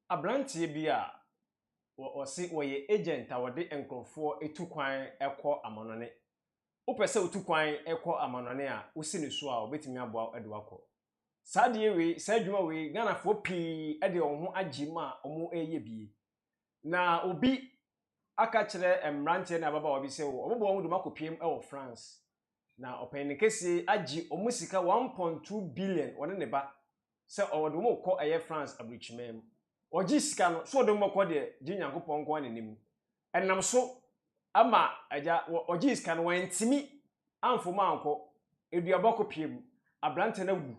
Aberanteɛ bi a wɔ wɔse wɔyɛ agent a wɔde nkorɔfoɔ tu kwan kɔ amanɔne. Wopɛ sɛ wotu kwan kɔ amanɔne a, wosi ne so a wɔbɛtumi aboa wo de wo akɔ. Saa adeɛ wei, saa adwuma wei, Ghanafoɔ pii de wɔn ho agye mu a wɔreyɛ bi. Na obi aka kyerɛ mmeranteɛ ne ababaawa bi sɛ wɔbɛbɔ wɔn de wɔn akɔpiem wɔ France. Na ɔpanin kɛseɛ agye wɔn sika one point two billion, ɔne ne ba, sɛ ɔde wɔn rekɔ ɛyɛ France aburukyimaa mu. Ɔgye sika no, so ɔde wɔn bɛkɔ deɛ, gye Nyankopɔn nko ara na nim. Ɛnam so ama agya, ɔgyee sika no, wantumi amfa wɔn ankɔ, aduaba kɔ pia mu, aberanteɛ no awu.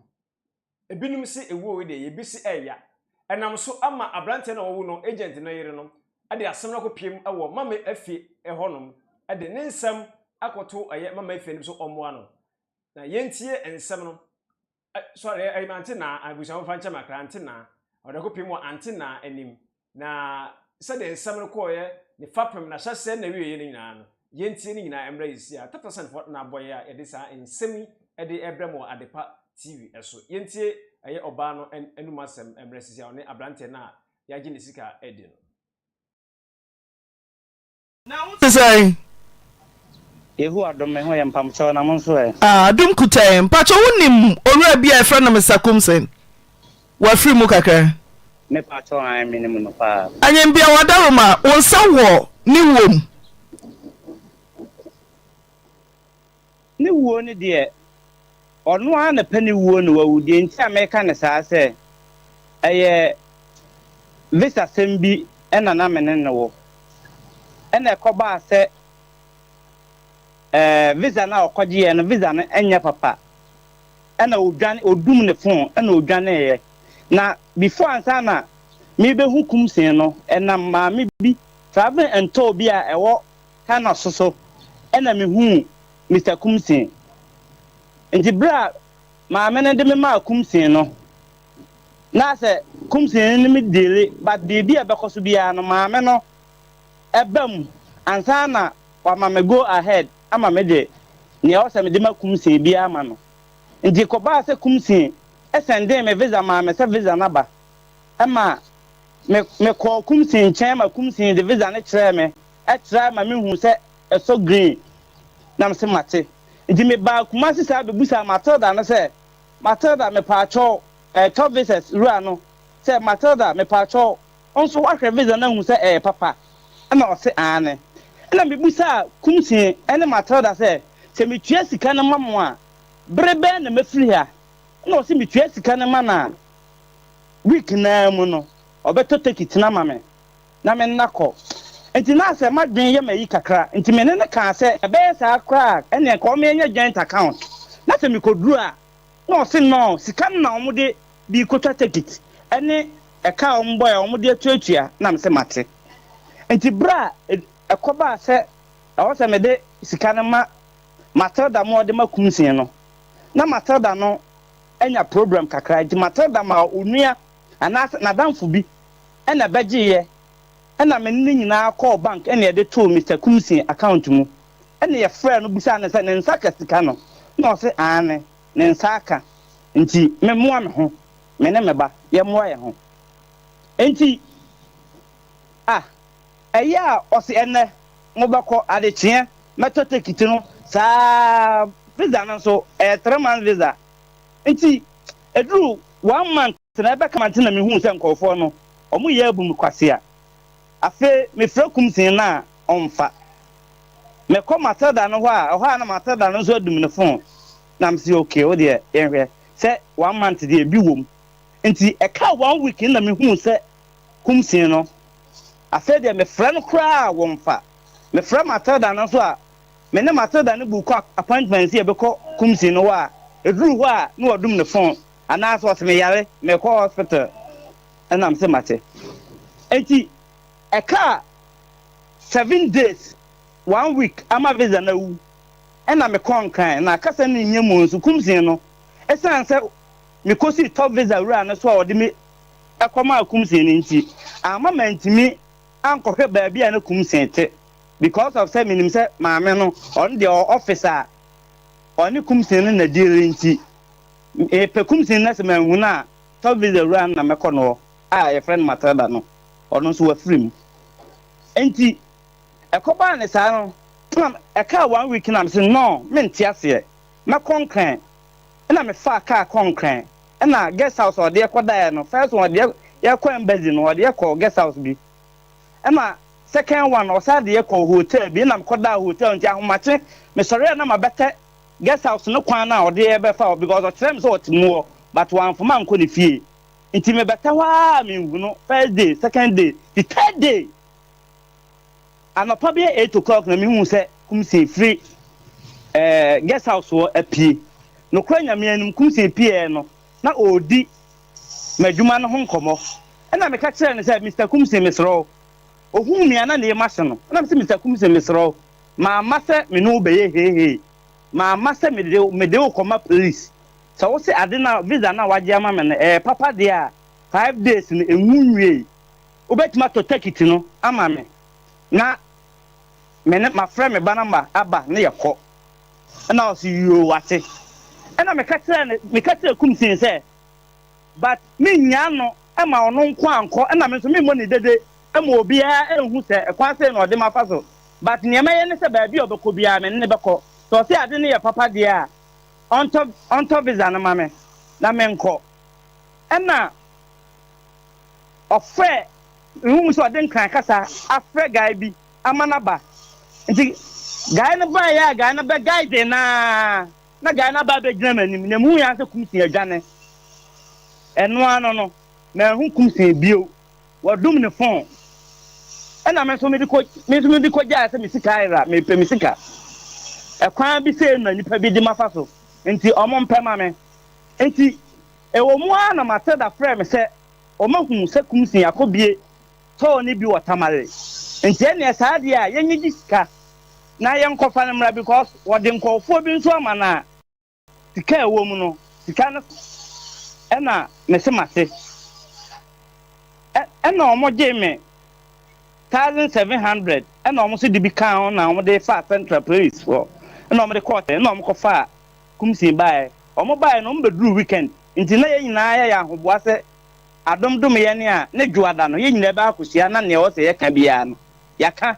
Ebinom se ewuo wei deɛ, ebi se ɛreya. Ɛnam so ama aberanteɛ no a wawu no agent no yere no de asɛm no akɔ pia mu wɔ Mama Efe hɔ nom de ne nsɛm akɔto ɛyɛ Mama Efe anim sɛ ɔmmoa no. Na yɛntie nsɛm no. Ɛ, sɔre, ɛ, ɛyɛ me ante na abusua wɔmfa nkyɛ me akra, ante na ɔde ko pem wɔ ante na anim. Na sɛdeɛ nsɛm no kɔɔeɛ, ne fapem, n'ahyɛaseɛ ne n'awieeɛ no nyinaa no, yɛntie ne nyinaa mmra yɛsi a tata sɛn fɔ na abɔeɛ a yɛde saa nsɛm yi de rebrɛ mo wɔ Adepa TV so. Yɛntie ɛyɛ ɔbaa no an, anum asɛm mmra sisi a ɔne abranteɛ no a yɛagye ne sika adi no. Na wo te sɛn? Yehu adom, me ho yɛ mpamkyɛw, na mo nso ɛ? Ah, adom kuta yɛn. Mpakyɛ wo nim owura bi a yɛfrɛ no Mister Kumsen? Wafiri mu kakra? Me pakyɛ an, me nim no paa. Anyɛ mbia wada wɔ mu a, wo nsa wɔ ne wɔ mu? Ne wuo no deɛ, ɔno ara na pɛ ne wuo na wawu. Deɛ nti a meka no saa sɛ, ɛyɛ visasɛm bi na na me ne no wɔ. Ɛna ɛkɔbaa sɛ ɛɛ visa no a ɔkɔgyeeɛ no, visa no nyɛ papa. Ɛna ɔdwane, ɔdum ne fon na ɔdwaneeɛ. Na before ansa na merebɛhu Kumseng no, ɛnam maame bi, travelling and tour bi a ɛwɔ Ka no so so na mehuu Mister Kumsin. Nti berɛ a maame no de me maa Kumsin no, na sɛ Kumsin ne me diili but biribi a ɛbɛkɔ so biara no maame no ba mu ansa na wama me go ahead ama me de nea ɛwɔ sɛ mede ma Kumsin biara ama no. Nti kɔbaa sɛ Kumsin sɛndee me visa maa me sɛ visa no aba ma me, mekɔɔ Kumsin nkyɛn ma Kumsin de visa no kyerɛɛ me. Ɛtra ma mehuu sɛ ɛsɔ green na mese mate. Nti mebaa Kumasi saa bebusaa Matilda no sɛ, Matilda mepaakyɛw ɛretɔ visas wura no sɛ, Matilda mepaakyɛw wo nso woahwɛ visa no ahu sɛ ɛyɛ papa? Ɛna ɔse aane. Ɛna mebusaa Kumsi ne Matilda sɛ, sɛ metua sika no ma mo a bere bɛn na mɛfiri ha? Ɛna ɔse metua sika no ma no a week no ara mu no ɔbɛtɔ tekit no ama me. na me nna kɔ. Enti na sɛ m'adwene yɛ me ayi kakra nti me ne no kaa sɛ ɛbɛyɛ saa koraa a ɛnneɛ nka ɔmma yɛnyɛ joint account na sɛ mekɔduru a na ɔse noo sika no na wɔde bi kɔtwa tekit ne ɛka a wɔbɔɛ a wɔde atuatua na mese mate. Enti berɛ a ɛkɔbaa sɛ ɛwɔ sɛ mede sika no ma Matilda ma ɔde ma Kumsee no na Matilda no anya problem kakra nti Matilda maa onua anaasɛ n'adamfo bi Ɛna bɛgyeeɛ. Ɛna me ne no nyinaa kɔɔ bank ɛna yɛde too Mister Kumsey account mu. Ɛna yɛfrɛɛ no bisaa no sɛ ne nsa ka sika no. Ɛna ɔse aane, ne nsa aka. Nti me moa me ho, me ne me ba, yɛ moa yɛn ho. Nti ah, ɛyɛ a ɔse ɛnɛ mo bɛkɔ, adekyeɛ mɛtɔ tekiti no saa ara. Visa no nso, ɛyɛ three months visa. Nti ɛduru one month. Sɛnea ɛbɛka ma nti na mihuu sɛ nkurɔfoɔ no, wɔyɛ abu me kwasea. Afei mefrɛ kum see no a, ɔmfa. Mekɔ Matilda no hɔ a, ɛhɔ ara na Matilda no nso adum ne fon, na mese, Ok, wo deɛ, yɛnhwɛ. Sɛ one month deɛ, bi wom. Nti ɛkaa one week no na mehuu sɛ kum see no. Afei deɛ, mefrɛ no koraa a, wɔmfa. Mefrɛ Matilda no nso a, me ne Matilda no buukɔ appointment sɛ yɛbɛkɔ kum see no hɔ a, ɛduruu hɔ a, na wɔadum ne fon. Anaa sɛ ɔse me yare mekɔ hospital ɛnam se mate nti ɛkaa seven days one week ama visa no awu ɛna mekɔ nkran na kasa no nyɛ mu nso kumsin no ɛsan sɛ mekɔsii top visa wura no so a ɔde me ɛkɔmaa kumsin no nti amma mantimi ankɔhwɛ baabi a na kumsin te because of sɛ menim sɛ maame no ɔno deɛ ɔ office a ɔne kumsin no na deal nti Mepɛ kumsin na sɛ manhu no a, tɔ visa wura no na mɛkɔ ne hɔ a yɛfrɛ no Matilda no, ɔno nso wafiri mu. Enti ɛkɔbaa ne saa no, ɛna ɛkaa one week na mese no, mente aseɛ, mɛkɔ Nkran. Ɛna mefaa kaa kɔɔ Nkran, ɛna guest house a ɔde yɛ kɔdaeɛ no, first one ɔde yɛ yɛkɔ embassy no, ɔde yɛ kɔɔ guest house bi. Ɛna second one ɔsan de yɛ kɔɔ hotel bi, ɛna mekɔdaa hotel no nti ahomakye mesɔreɛ a na mabɛtɛ Guest house no kwan na ɔde yɛ bɛfa hɔ because ɔkyerɛ me sɛ ɔte mu hɔ but wamfama ankɔ ne fie nti me bɛtɛ hɔ aa me nhu no first day second day the third day anɔpa bɛyɛ eight o'clock na me hu sɛ kumsii firi ɛɛ guest house hɔ apue nokora nyame anim kumsii pieɛ no na ɔredi m'adwuma no ho nkɔmɔ ɛna meka kyerɛ no sɛ Mister kumsii meserɛ wo ohuu me a na ne yɛ mahye no ɛna me sɛ Mister kumsii meserɛ wo Mamma sɛ me ne wo bɛyɛ heihei, mamma sɛ mede wo mede wo kɔma police. Sɛ wo se ade no a, visa no a wɔagye ama me no ɛyɛ papa deɛ a, five days no ɛnwu nwiei. Wobɛtumi atɔ tekiti no ama me na me ne mafrɛ me ba no ama aba na yɛkɔ. Ɛna ɔse yoo wate. Ɛna meka kyerɛɛ no, meka kyerɛɛ Kumsin sɛ. but me nyaa no ma ɔno nko ankɔ na me nso me mmɔ ne dede ma obiara nhu sɛ kwan sei na ɔde mafa so but neɛ mɛyɛ ne sɛ baabi a ɔbɛkɔ biara me ne no bɛkɔ sɛ ɔse ade no yɛ papa deɛ a ɔntɔ ɔntɔ visa no ma me na me nkɔ ɛna ɔfrɛ mehu mu sɛ ɔde nkran kasa afrɛ guy bi ama no aba nti guy no baeɛ a guy no bɛ guide naa Na gyae na ba bɛgyina m'anim, na mehui ara sɛ Kumsin adwane. Ɛno ara no no, manhu Kumsin bio. Wɔdum ne fon. Ɛnna me nso mede kɔ, me nso mede kɔgyaeɛ sɛ me sika ayera, mepɛ me sika. Ɛkwan bi sei na nnipa bi de mafa so, enti wɔmpɛ ma me. Enti, ɛwɔ mu ara na Matilda frɛɛ me sɛ ɔmahu sɛ Kumsin akɔbue tɔɔ ne bi wɔ Tamale nti ɛneɛ saa deɛ a yɛnyɛ gye sika na yɛnkɔfa no mmra because wɔde nkɔɔfoɔ bi nso ama no a sika a ɛwɔ mu no sika no ɛna mese mase ɛna wɔn gyee me thousand seven hundred ɛna wɔn nso de bi kaa ho na wɔn de faa central police hɔ ɛna wɔn de kɔɔ tɛn ɛna wɔn kɔ faa kumsin baeɛ wɔn baeɛ no wɔn bɛduru weekend nti na yɛn nyinaa yɛyɛ ahoboa sɛ Adom dom yɛn a ne Dwoada no yɛn nyinaa bɛ akɔhyia na nea ɔwɔ sɛ yɛka biara no yɛaka.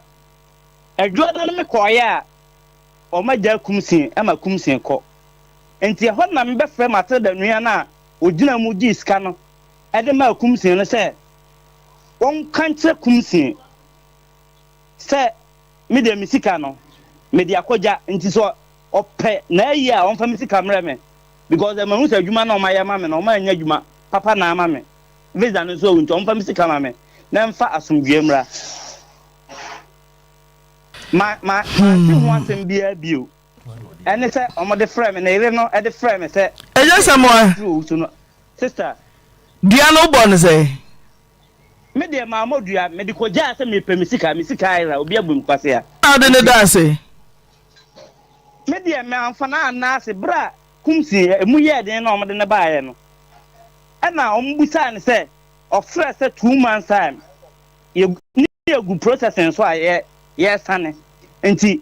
Dwoada no me kɔeɛ a wɔn agyaa Kumsin ma Kumsin kɔ. Nti ɛhɔ na me bɛ frɛ Matilda nua no a ɔgyina mu gyee sika no de maa Kumsin no sɛ wɔn ka nkyerɛ Kumsin sɛ me deɛ me sika no me de akɔ gya nti sɛ Ɔpɛ na ayi a ɔmfa me sika mrɛ me because mahu sɛ adwuma na ɔmayɛ ama me no ɔma anya adwuma papa na ama me visa no nso awu nti ɔmfa me sika ma me na ɛmfa asomdwoeɛ mmra. Ma ma mante ho asɛm biara bio ɛne sɛ ɔmode frɛ me ne yere no de frɛ me sɛ ɛnyɛ sɛ moa tiri owu so no sister. Dua no wobɔ no sɛ? Me deɛ maa mɔ dua mede kɔgyaa sɛ mepɛ me sika me sika ayera obi abu me kwasea. Na wode no daa ase? Me deɛ me anfa no anna ase berɛ a Kumsi a ɛmu yɛɛ den na wɔde no baeɛ no ɛna wɔn bisaa no sɛ ɔfrɛ sɛ two months time yɛ ne yɛgu processing so a yɛ yɛsane nti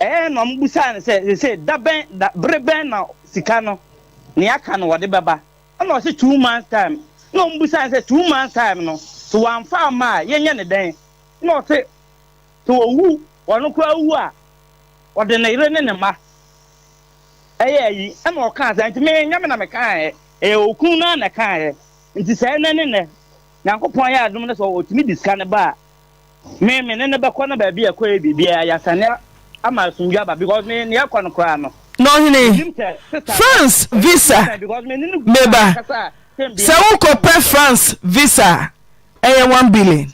ɛyɛ na wɔn bisaa no sɛ sɛsɛ da bɛn da bere bɛn na sika no ne aka no wɔde bɛba ɛna ɔse two months time na wɔn bisaa no sɛ two months time no so wɔamfa ama a yɛnyɛ ne dɛn na ɔse Sɛ owu, ɔno koraa wu a, ɔde ne yere ne ne mma yɛ ayi. Ɛnna ɔkaa sɛ, Enti me, ɛnyɛ me na mekaeɛ, ɛyɛ okunu no ara na ɛkaeɛ. Enti sɛ ɛnnɛ ne nnɛ Nyankopɔn ayɛ adom na sɛ ɔtumi de sika no ba a, me, me ne no bɛkɔ na baabi a ɛkɔ yɛ biribiara, yɛasane ama asomdwoeɛ aba, because me, nea ɛkɔ no koraa no, Na ɔhene, mennim sɛ sister no France visa, bɛtumi ama me, because me ne no gu me ba, ankasa a, sɛ sɛ mebisa no a, ɔbɛka sɛ wokɔpɛ ɔnni hɔ. France visa a, ɛyɛ one billion.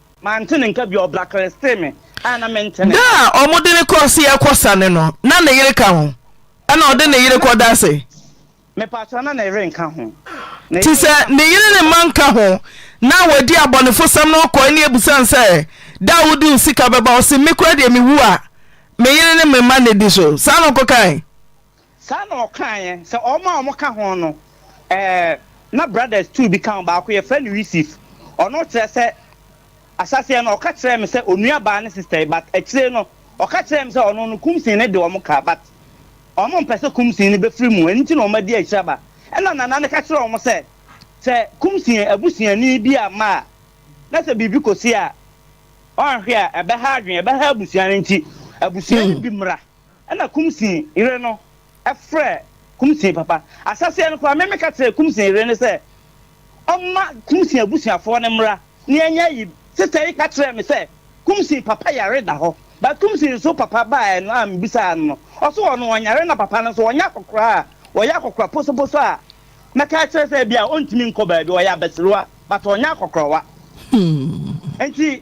Mante ne nka bio, ɔbra klesitee me a na mente ne Da nka. a wɔde no kɔ se ɛkɔ sane no, na ne yere ka ho? Ɛna ɔde ne yere kɔ da se? Mepakyɛw, na ne yere nka ho. Ne Te yere sɛ nka ho. ne yere ne mma nka ho, na wadi abɔnefosɛm no kɔe ne abusane sɛ, Da a wode wo sika bɛba? Ɔse, Me koraa deɛ mewu a, me yere ne me mma na ɛdi so. Saa na ɔkɔkae? Saa na ɔkaeɛ, sɛ wɔn a wɔka ho no, ɛɛ, na brothers two bi ka ho, baako yɛfrɛ no Yusif, ɔno kyerɛ sɛ, ahyɛaseɛ no ɔka kyerɛɛ me sɛ onua baa ne sister yi but akyire no ɔka kyerɛɛ me sɛ ɔno no Kumsin no de wɔn ka but wɔn mpɛ sɛ Kumsin no bɛfiri mu ɛno nti na wɔn adi akyiraba ɛna Nana no ka kyerɛɛ wɔn sɛ sɛ Kumsin abusuani bi amma a na sɛ biribi kɔsi a wɔanhwɛ a ɛbɛha adwene ɛbɛha abusua no nti abusua no bi mmra Ɛna Kumsin yere no frɛɛ Kumsin papa. Ahyɛseɛ no koraa me meka kyerɛɛ Kumsin yere no sɛ ɔmma Kumsin abusuafoɔ no mmra na yɛnyɛ ayi. Sister yi ka kyerɛɛ me sɛ Kumsin papa yare da hɔ but Kumsin nso papa baeɛ no a mebisaa no no ɔse ɔno ɔnyare na papa no nso ɔnyɛ akɔkora a ɔyɛ akɔkora posoposo a mɛka akyerɛ sɛ bia ɔntumi nkɔ baabi ɔyɛ abasiriwa but ɔnyɛ akɔkorawa nti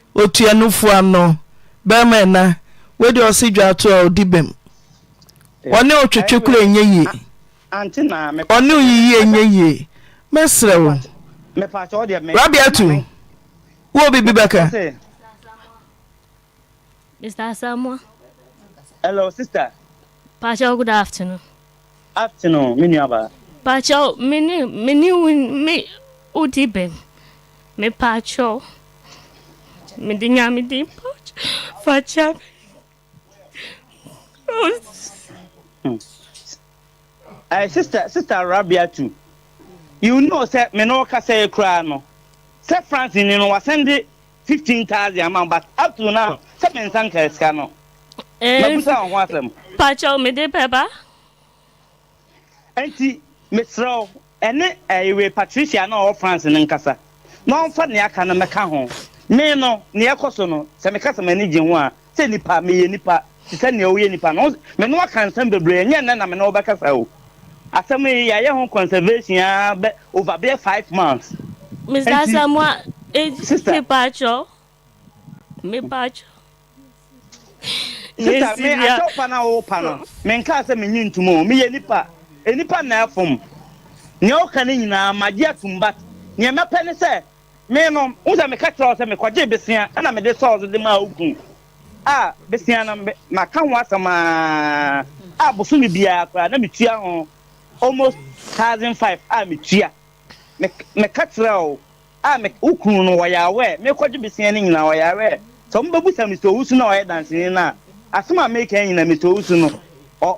Otuanofo ano barima ɛna wei deɛ ɔse dwa ato a ɔdi bɛm ɔne otwetwe kora ɛnyɛ yie ɔne oyiyi ɛnyɛ yie mɛsrɛ wo Rabiatu wowɔ biribi bɛka Mr. Asamoah Hello sister Pacho good afternoon afternoon me nua baa. Pakyɛw me ne me ne wo me wo di bɛn me pakyɛw me de nyame din pakyɛw fa kyɛ me hmm. Ɛɛ sister sister Rabia tu you know sɛ me ne wo kasa yi koraa no sɛ France ni no wasɛn de fifteen thousand ama wo but up to now sɛ me nsa nkaa sika no mabusa wo ho asɛm. Pakyɛw mede bɛba. Nti mesrɛ wo ɛne ɛyi wei Patricia no a ɔwɔ France no nkasa na ɔmfa nea aka no mmɛka ho. Me no nea ɛkɔ so no sɛ meka sɛ m'ani gye ho a Sɛ nipa, meyɛ nipa te sɛ nea woyɛ nipa no. Me ne wo aka nsɛm bebree, ɛnyɛ nnɛ na me ne wo bɛkasa o. Asɛm yi, yɛayɛ ho conservation ara bɛ over bɛyɛ five months. Mister Enti, Asamoah, eh, sister, mepatwɔ, mepatwɔ, ne sister, me Sylvia. akyɛw pa na wo pa no, menkaa sɛ menye ntom o. Meyɛ nipa, nnipa na ɛfom. Nea woka no nyinaa, magye atom but nea mɛpɛ ne sɛ Me no, wohu sɛ meka kyerɛɛ wo sɛ mekɔgyee bosea na mede sɔɔ so de maa wo kunu a bosea no maka ho asɛm ara a bosome biara koraa na metua ho almost thousand five a metua. Me, meka kyerɛɛ wo a me, wo kunu no ɔyarewɛɛ, mekɔgye bosea no nyinaa ɔyarewɛɛ. Sɛ wɔbɛbusa Mister Owusu no a ɔyɛ danseni no a, asɛm a meka nyinaa Mister Owusu no, ɔ,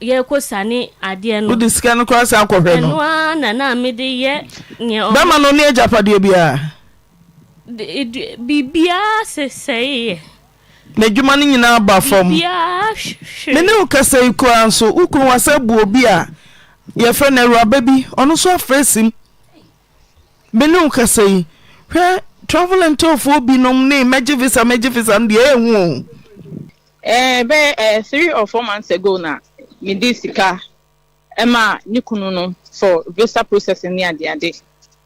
yɛrekɔ siane adeɛ no. Wode sika no koraa san kɔhwɛ no. Ɛno ara na na mede yɛ neɛ ɔmo. Bɛma no ɔne agyapadeɛ biara. Biribiara sesɛeɛ. N'adwuma no nyinaa baa fam. Biribiara hwee. Me ne wo kasa yi koraa nso, wo kunu wasan abu obi a yɛfrɛ no Awuraba bi, ɔno nso afra asim. Me ne wo kasa yi, hwɛ travel and tourfoɔ binom ne mɛgye visa mɛgye visa no deɛ ɛyɛ hu o. Eh bɛyɛ eh three or four months ago na me de sika ɛma ne kunu no for visa process ne ade ade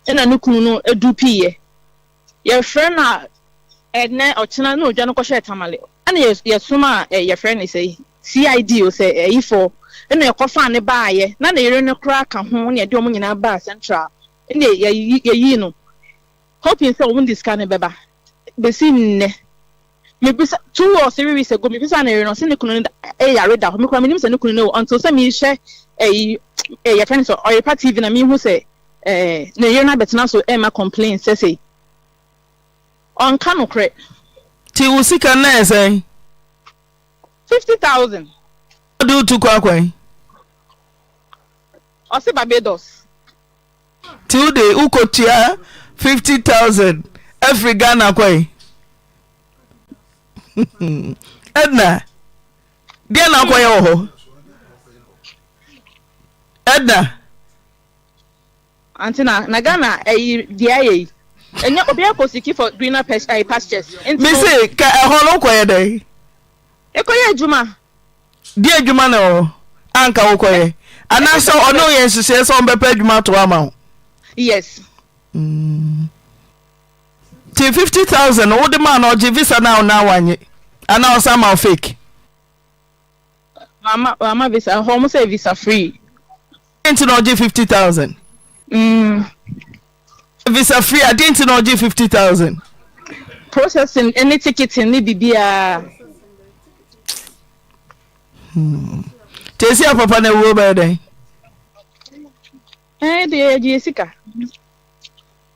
ɛna ne kunu no edu piyɛ yɛfrɛ na ɛnɛ ɔkyena na odwa no kɔhyɛ tamale ɛna yɛ yɛsom a eh, yɛfrɛ ne sɛ CID o sɛ ɛyifɔ ɛna ɛkɔfa ne baayɛ na ne yere no koraa ka ho na yɛde wɔn nyinaa baa central ɛna yɛyi yɛyi no hoping sɛ wɔn de sika no bɛba. besi nnɛ, mebisa two or three weeks ago mebisa me yere no ɔse ne kunu no eh, yare da hɔ mekora menim sɛ ne kunu no wɔ until sɛ mehwɛ ɛyi eh, eh, yɛfrɛ no sɛ ɔyepa tv na mehu sɛ eh, ne yere no abɛtena so ɛma eh, complain sɛ sei ɔnka nokorɛ nti wo sika no ɛyɛ sɛn fifty thousand wode wotu kɔ akwan Ɔse Barbados. Nti wo de wo kɔ tua fifty thousand afiri Ghana kɔ yi. Edna, deɛ na akɔyɛ wɔ hɔ? Edna. Ante na na Ghana ɛyi deɛ ayɛ yi. Ɛnyɛ obi akɔ siki for greener pastures. Mese ka ɛhɔ no kɔyɛ dɛn? Ekɔyɛ adwuma? Deɛ adwuma na ɛwɔ hɔ a nka wokɔyɛ? Anaasɛ ɔne wo yɛ nhyehyɛɛ sɛ ɔmbɛpɛ adwuma atoa ama wo? Yes. Mm. Nti 50,000 no wode maa no ɔgye visa no a ɔnaa wanye? Anaa ɔsan ma wo fake? Wama, wama visa. Hɔ ɔmo sɛ visa free. Nti na ɔgye 50,000? Mm. Visa free a den nti na ɔgye fifty thousand. Processing ne ticketing ne bibiaa. Hmm. Tesi a papa na wuo bɛyɛ dɛn? Ɛɛ eh, deɛ yɛgye yɛ sika.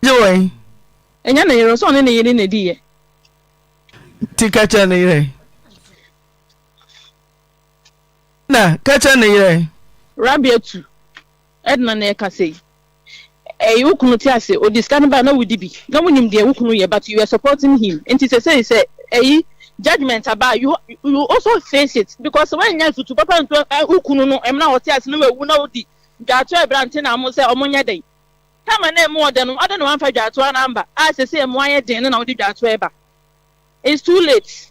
Gye wɔn? Ɛnyɛ ne yere, sɔɔ ne ne yere na di yɛ. Ti ka kyerɛ ne yere. Na ka kyerɛ ne yere. Rabi atu. Edna na ɛkasa yi. Ɛy wo kunu te ase ɔde sika no bae na wodi bi na wonim deɛ wo kunu yɛ but you were supporting him nti sesei sɛ ɛy judgement aba a you you also face it because sɛ woannya afutu papa antu ɛy wo kunu no ɛmena a ɔte ase na wawu na wodi dwaatoa ɛbrante na mo sɛ ɔmo nyɛ dɛn time a na ɛmo ɔdɛ no adɛn na woanfa dwaatoa no amba a sesei ɛmo ayɛ den no na wode dwaatoa ɛba it's too late.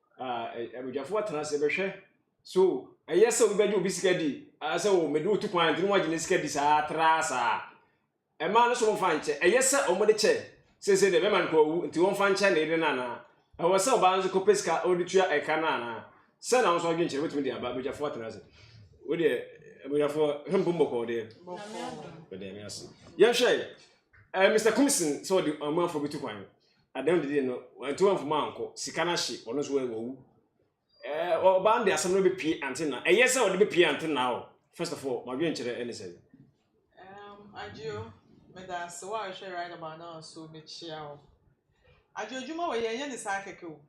Abadwafoɔ atena ase bɛhwɛ so ɛyɛ sɛ obi bɛgye obi sika di sɛ o mede otu kwan nti na wɔagye ne sika di saa tra saa ɛmaa no so wɔmfa nkyɛ ɛyɛ sɛ wɔde kyɛ sese deɛ bɛma no kɔ owu nti wɔmfa nkyɛ na yɛde no anaa ɛwɔ sɛ ɔbaa nso kɔpɛ sika ɔde tua ɛka no anaa sɛ na wɔn nso adwene kyerɛ wɔtumi de aba abadwafoɔ atena ase wodeɛ abadwafoɔ hwɛ mpom bɔkɔɔ deɛ yɛhwɛ eh, Mr. Kumsin sɛ ɔde ɔmanfoɔ bɛtu kwan Adan no didi no wantu anfo mu ankɔ. Sika no ahye, ɔno nso wawu. Eh, ɔbaa no de asɛm no bepie ante na. Ɛyɛ sɛ ɔde bepie ante na o. First of all, mo adwenkyerɛ ne sɛn? Um, Adio, meda ase woahwɛ right about now so mekyea wo. Adio, adwuma wei yɛnyɛ ne saa kɛkɛ o.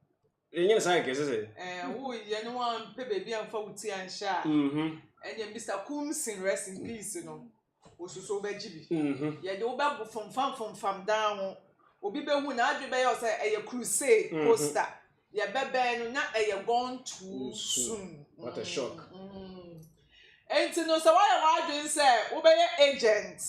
Yɛnyɛ ne saa kɛkɛ sɛ sɛ. Ɛɛ wo yɛ ne wɔn mpɛ baabi anfa wo ti anhyɛ a. Mhm. Ɛnyɛ Mister Kumsin rest in peace no osusu wobɛgye bi. Mhm. Yɛde wo bɛbo fomfam fomfam dan ho obi bɛhu n'adwene bɛyɛ wo sɛ ɛyɛ crusade mhm. poster yɛbɛbɛn no na ɛyɛ gone too mm, soon. What a shock. Mm. Enti no sɛ woayɛ w'adwene sɛ wobɛyɛ agent.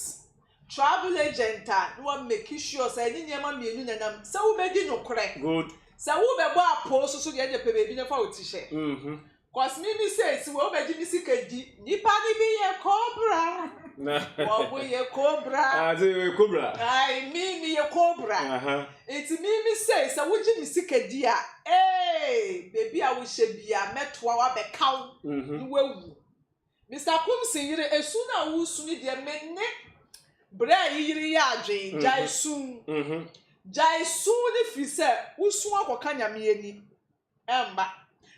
Travel agent a na wa make sure sɛ ɛnye nneɛma mmienu na ɛnam sɛ wo bɛ di nokorɛ good sɛ wo bɛ bɔ apoo soso deɛ ɛnde pɛ baabi na fa wo ti hyɛ cos me me sɛ esi wɔ wo bɛ gye me sika di nipa no bi yɛ cobra wɔ mo yɛ cobra ase yɛ cobra ai me me yɛ cobra nti me me sɛ sɛ wo gye me sika di a ee baabi a wo hyɛ bia mɛ toa wa bɛ ka wo na wa wu. Mister Kumsey yere esu no a wosu no deɛ me ne brɛ yi yere yɛ adwen gyae su gyae su no firi sɛ wosu akɔka nyame ani ɛmma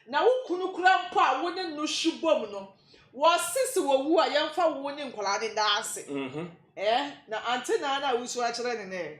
na wo kunu kora mpo a wo ne no hye bom no wɔse se wɔwu a yɛmfa wo ne nkwadaa no nda ase ɛɛ na ante naa no a wosu akyerɛ ne nɛ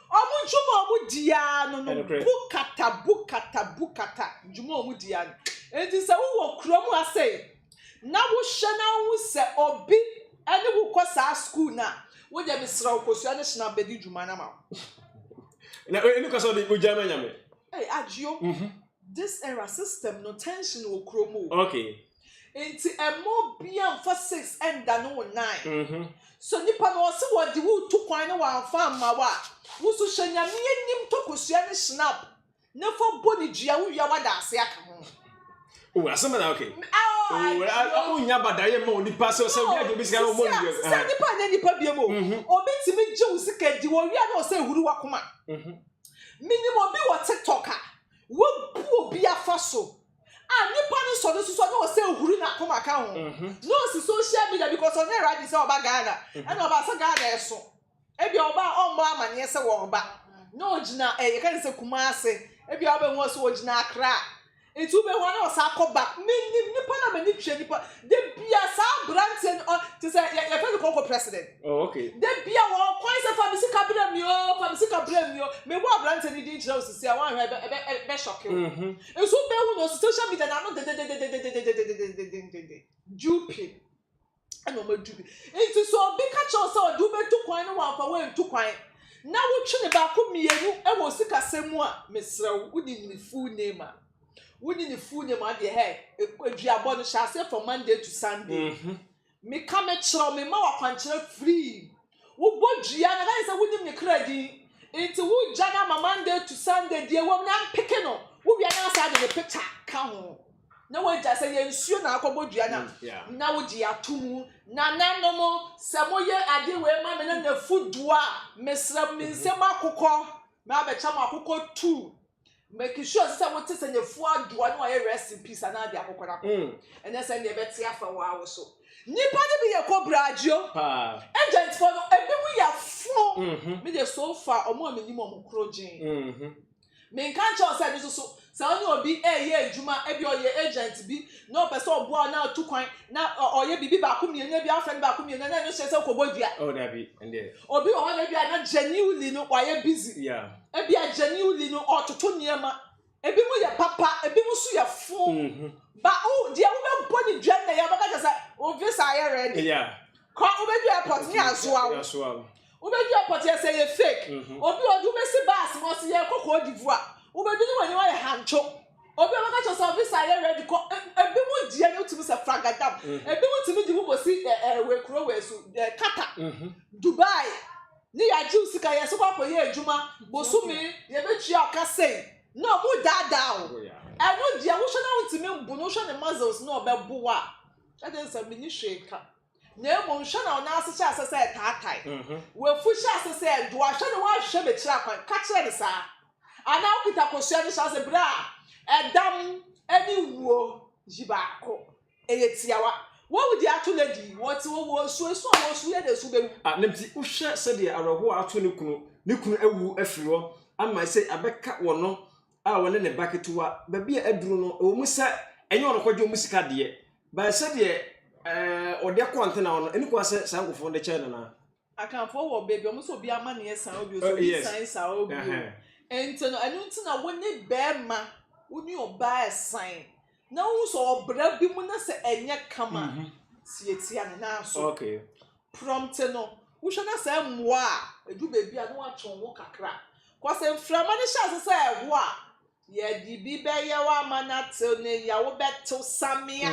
Wɔn dwuma a wɔdi ara no no, bukata, bukata, bukata, dwuma a wɔdi ara no. Enti sɛ wowɔ kurom ha sei, na wohwɛ na wohu sɛ obi ne wo kɔ saa sukuu no a, wo deɛ mesrɛ wo kɔsua ne hyena bɛdi dwuma no ama wo. Na ɛnu ka sɛ ɔde ogya ma nyame. Hey, Adio, mm -hmm. this era system no tension wɔ kurom o. Okay. Nti mma obia mfa six ndane wo nan so nipa no ɔse wɔde wo retu kwan na wamfa amma wo a wo so hyɛ nyame anim tɔ kosua ne snap na fa bɔ ne dua wo wia wada ase aka ho Oh, asɛm na okay. Oh, wonya badaeɛ ma onipa sɛ ɔsɛ obi agye obi sika na ɔmmɔ ne dua. Sɛ nipa nyɛ nipa biam o, obi tumi gye wo sika di wɔ wia na ɔsɛ ehuru wakoma. Menim obi wɔ TikTok a wabu obi afa so A nipa no sɔ no susu ɔne ɔsɛ huri na akoma ka ho na ɔsi social media because ɔnyɛ ready sɛ ɔba Ghana ɛna ɔba sɛ Ghana ɛso ebia ɔba a ɔmmɔ amaneɛ sɛ wɔreba na ɔgyina eh, yɛka ne sɛ Kumase ebia wobɛhu ɔ sɛ ɔgyina Accra nti wobɛhu a na ɔsa akɔba menim nipa na m'ani twe nipa da bia saa aberanteɛ no te sɛ yɛ- yɛfrɛ no kɔnkɔ president Oh, okay. da bia wɔkwan sɛ fa me sika berɛ mi o fa me sika berɛ mi o mebɔ aberanteɛ no din kyerɛ wo sisi a woanhwɛ ɛbɛ- ɛbɛ- ɛbɛhyɔke wo Nso wo bɛhu no social media na ano dededededededededededededede duping ɛna ɔmo adu bi nti sɛ obi ka kyerɛ wo sɛ ɔde wo bɛtu kwan ne wamfa wo antu kwan na wo twe ne baako mmienu ɛwɔ sikasɛm mu a mesrɛ wo wo nim ne full name a wo nim ne full name a deɛ hɛ aduabɔ no hyɛ aseɛ from Monday to Sunday. Meka mekyerɛ wo, mema wo akwankyerɛ firii wo bɔdua na ɛbɛyɛ sɛ wonim ne kra din, nti wogya no ama Monday to Sunday, deɛ ɛwɔ mu no ampeke no, wowia no asan de ne picture ka ho na wagya sɛ yɛ nsuo na akɔbɔ dua no a, na wogye ato mu. Nananom, sɛ moyɛ ade wei ma me na n'afu du a, mesrɛ mo, me nsam akokɔ, mɛbɛkyɛ mo akokɔ tu. Make sure sɛ wote sɛ Nyefu Adua no a ɔyɛ Rest in Peace anaa deɛ akɔkɔnakɔ. Ɛnyɛ sɛdeɛ ɛbɛte afa wo ara wo so. Nnipa no bi yɛ kobra adio. Agentfoɔ no, ebinom yɛ fo. Me deɛ so far, wɔn a menim wɔn koro gyee. Menka nkyerɛ wo sɛ ɛno nso so, sɛ wo ne obi reyɛ adwuma, ebi ɔyɛ agent bi, na ɔpɛ sɛ ɔboa wo na ɔtu kwan, na ɔyɛ biribi baako mmienu, ebi afrɛ no baako mmienu, na ɛno hyɛ sɛ wokɔbɔ dua. Oh, dabi, ɛndeɛ. Obi wɔ hɔ na ebi a na genuinely no wayɛ busy. Yeah. Ebia Janiu Li no ɔretoto nneɛma. Ebinom yɛ papa, ebinom nso yɛ fo. Mm-hmm. Ba o deɛ wobɛbɔ ne dwa nnɛ yɛ wobɛka kyɛ sɛ wo visa ayɛ ready. Yeah. Kɔ wobɛdu airport ne asoa wo. Asoa wo. Wobɛdu airport yɛ sɛ yɛ fake. Mm-hmm. Obi ɔde wobɛsi bus mu ɔsɛ yɛrekɔ Cote d'Ivoire. Wobɛdu ne w'ani wayɛ hantwo. Obi ɔbɛka kyɛ sɛ visa ayɛ ready kɔ. E, ebinom deɛ no wotumi sɛ fragadam. Mm-hmm. Ebinom tumi de wo kɔsi ɛɛ wei kuro wei so ɛɛ Qatar. Mm-hmm. Dubai. Ne yɛagyew sika yɛse kɔ akɔyɛ adwuma bosome yɛbɛtua ɔka sei na ɔmo daadaa wo ɛno deɛ wohwɛ na wontumi mbo no wohwɛ ne muscles na ɔbɛbo wo a ɛde nsa mini hwee ka na mmom hwɛ na ɔnan ase hyɛ ase sɛ ɛtaatae mhm. wafu hyɛ ase sɛ ɛdoa hwɛ na woahwehwɛ bɛkyerɛ akwan ka kyerɛ ne saa anaa wokita kosua no hyɛ ase berɛ a ɛdam ne wuo yi baako Ɛyɛ tiawa. Wɔredi ato no adi. Wɔte hɔ, wɔresu. Esu a wɔresu yɛ deɛ su bɛwu. A Ne nti, wohwɛ sɛdeɛ awerɛhoɔ a ato ne kunu, ne kunu awu afiri hɔ, ama ɛsɛ abɛka wɔn no a ɔne ne ba ketewa, baabi a aduru no, ɛwɔ mu sɛ ɛnyɛ ɔno kɔgye wɔn sika deɛ, but sɛdeɛ ɛɛ ɔde kɔ antenna hɔ no, ɛni kwan sɛ saa nkurɔfoɔ no de kyɛɛ no anaa? Akanfoɔ wɔ baabi ɔmo sɛ obi amaneɛ san wo bio sɛ obi san saa wo bio nti no ɛno nti na wo ne bɛɛma wo ne ɔbaa ɛsan na wohu sɛ ɔbra bi mu na sɛ ɛnyɛ kama si etia ne nan so prɔmte no wohwɛ na sɛ mmoa a edu baabi a na watwe wo ho kakra kɔsɛ mframa no hyɛ ase sɛ ɛho a Yɛde bi bɛyɛ wo ama no atew ne yea wobɛtew samea.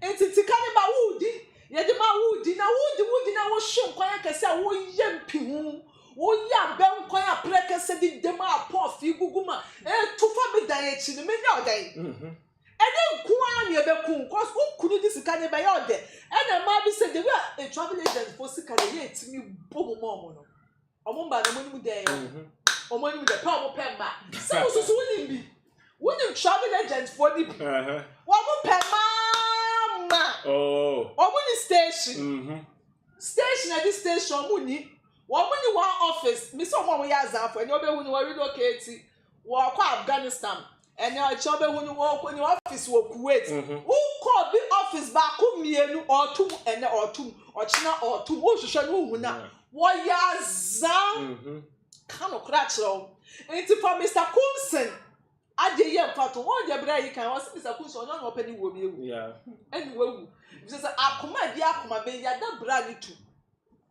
Enti sika no ma wodi, yɛde ma wodi na wodi wodi na wohwe nkwan akɛse a woyɛ mpihu. Woyɛ abɛ nkwan a prɛ kɛse de dam a pɔɔfee gugu ma etu fa me dan akyi no menyɛ ɔdɛn? Ɛne nko ara na ɛbɛku wo cause wo kunu de sika no bɛyɛ ɔdɛ. Ɛna mmaa bi sɛ the way a travel agent fo sika no ɛyɛ a ɛtumi bɔ mu ma wɔn no. Wɔn mma no, wɔnim dɛn? Mhm. Wɔn anim dɛ pɛ wɔn pɛ mma. Sɛ wosusu wonim bi. Wonim travel agent foɔ no bi. Uh-huh. Wɔn pɛ maa ma. Oh. Wɔn ni station. Mhm. Station ɛdi station wɔn ni. Wɔn ni one office. Misi wɔn a wɔyɛ azanfo ɛni wɔbɛhu ni wɔn relocate. Wɔkɔ Afghanistan ɛnɛ ɔkyɛ ɔbɛhu no wɔkɔ ne office wɔ Kuwait mhm. wokɔ bi office baako mmienu ɔɔto mu ɛnɛ ɔɔto mu ɔkyena ɔɔto mu wohwehwɛ no wohu na wɔyɛ azaa mhm. ka no kora kyerɛ wo nti fa Mr Coulson adeɛ yɛ mfa to wɔn deɛ berɛ yi kan wɔsi Mr Coulson ɔnyɛ ɔna ɔpɛ ne wuo bi ewu ɛne wawu bisɛ sɛ akoma bi akoma bɛyi ada bra ne tu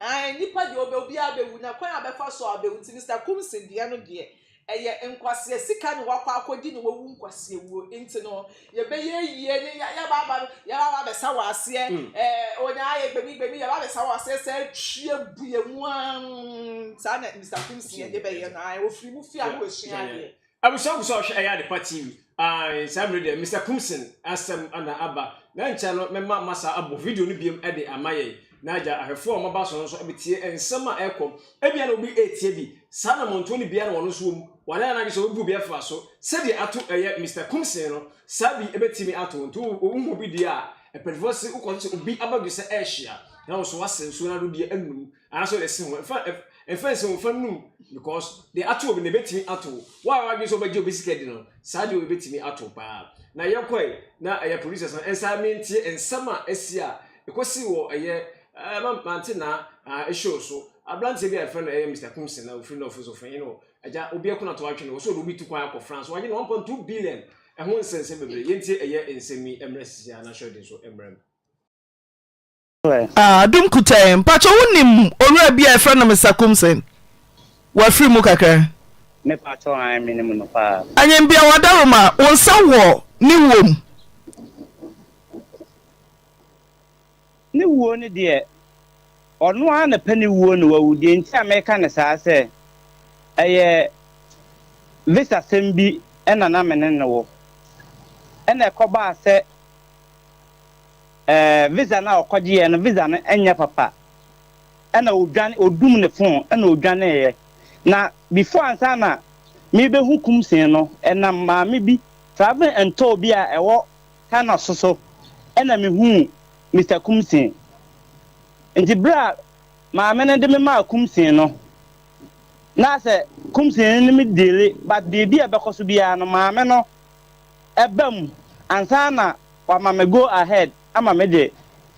Ae, nnipa deɛ ɔbɛ obiara bɛwu na kwan a ɔbɛfa so a ɔbɛwu nti Mister Kumsin deɛ no deɛ ɛyɛ nkwasea sika na wakɔ akɔgye na wawu nkwasea wuo nti no yɛbɛyɛ ayie ne ya yɛba aba no yɛba aba abɛsa wɔ aseɛ ɛɛ onyaa yɛ gbemi gbemi yɛba abɛsa wɔ aseɛ sɛ atwie bu yɛ mu aa saa na Mister Kumsin yɛde bɛyɛ no ae ofiri mu fie a na wasua adeɛ Abusua gu so a ɔhwɛ ɛyɛ ade pa TV. Ae, saa mmere deɛ Mister Kumsin asɛm na aba. Na ɛnkyɛ no mɛma masa abɔ video no biom de ama yɛn. Na agya ahwɛfoɔ a wɔn aba so no nso betie nsɛm a ɛrekɔ. Ebia na obi retie bi. Saa anammɔntuo no biara na wɔn nso wɔ mu. Wɔayɛ wɔn adwene sɛ wɔbɛbu obi afra so. Sɛdeɛ ato ɛyɛ Mister Kumsin no, saa bi betumi ato wo. Nti wo wohu obi deɛ a, mpanimfoɔ se wokɔto obi abadwesɛ ɛrehyia. Na wo nso woase nsuo no ara wode bi anum. Nanso ne se ho ɛfa ɛfa nsi ho fa num because de ato obi na ebetumi ato wo a wadwene sɛ ɔbɛgye obi sika di no saa deɛ ebetumi ato paa na yɛkɔe na ɛyɛ producers no nsa mentie nsɛm a esi a ekosi wɔ ɛyɛ ɛɛ mante na ɛɛ show so abranteɛ bi a yɛfrɛ no ɛyɛ Mr Kumsin na ofiri nɔfo so fɛn no agya obi ɛko na to atwe no wɔ so de obi tu kwan akɔ France wagye no 1.2 billion ɛho nsɛnsɛm bebree yɛntie ɛyɛ nsɛm yi mmerɛ sisi a na hyɛ ɔden so mmerɛ mu. Ah Adum Kutɛɛ, mpakyɛ wo nim owura bi a yɛfrɛ no Mister Kumsen? Wafiri mu kakra. Me pakyɛ ae me nim no paa. Anyinbia Wadaroma, wo nsa wɔ ne wuo mu? Ne wuo no deɛ, ɔno ara na pɛ ne wuo no wawu, deɛ nti a meka no saa sɛ ɛyɛ visa sɛm bi na na me ne no wɔ, ɛna ɛkɔbaa sɛ. Ɛɛ visa no a ɔkɔgyeeɛ no visa no nyɛ papa ɛna ɔdwane ɔdum ne phone ɛna ɔdwaneeɛ na before ansa na mebɛhu kumsee no ɛnam maame bi travelling and tour bi a ɛwɔ Thanos so so ɛna mehuu Mister Kumsee nti berɛ a maame no de me maa kumsee no na sɛ kumsee no ne me deale but biribi a ɛbɛkɔ so biara no maame no ɛba mu ansa na wama me go ahead ama me de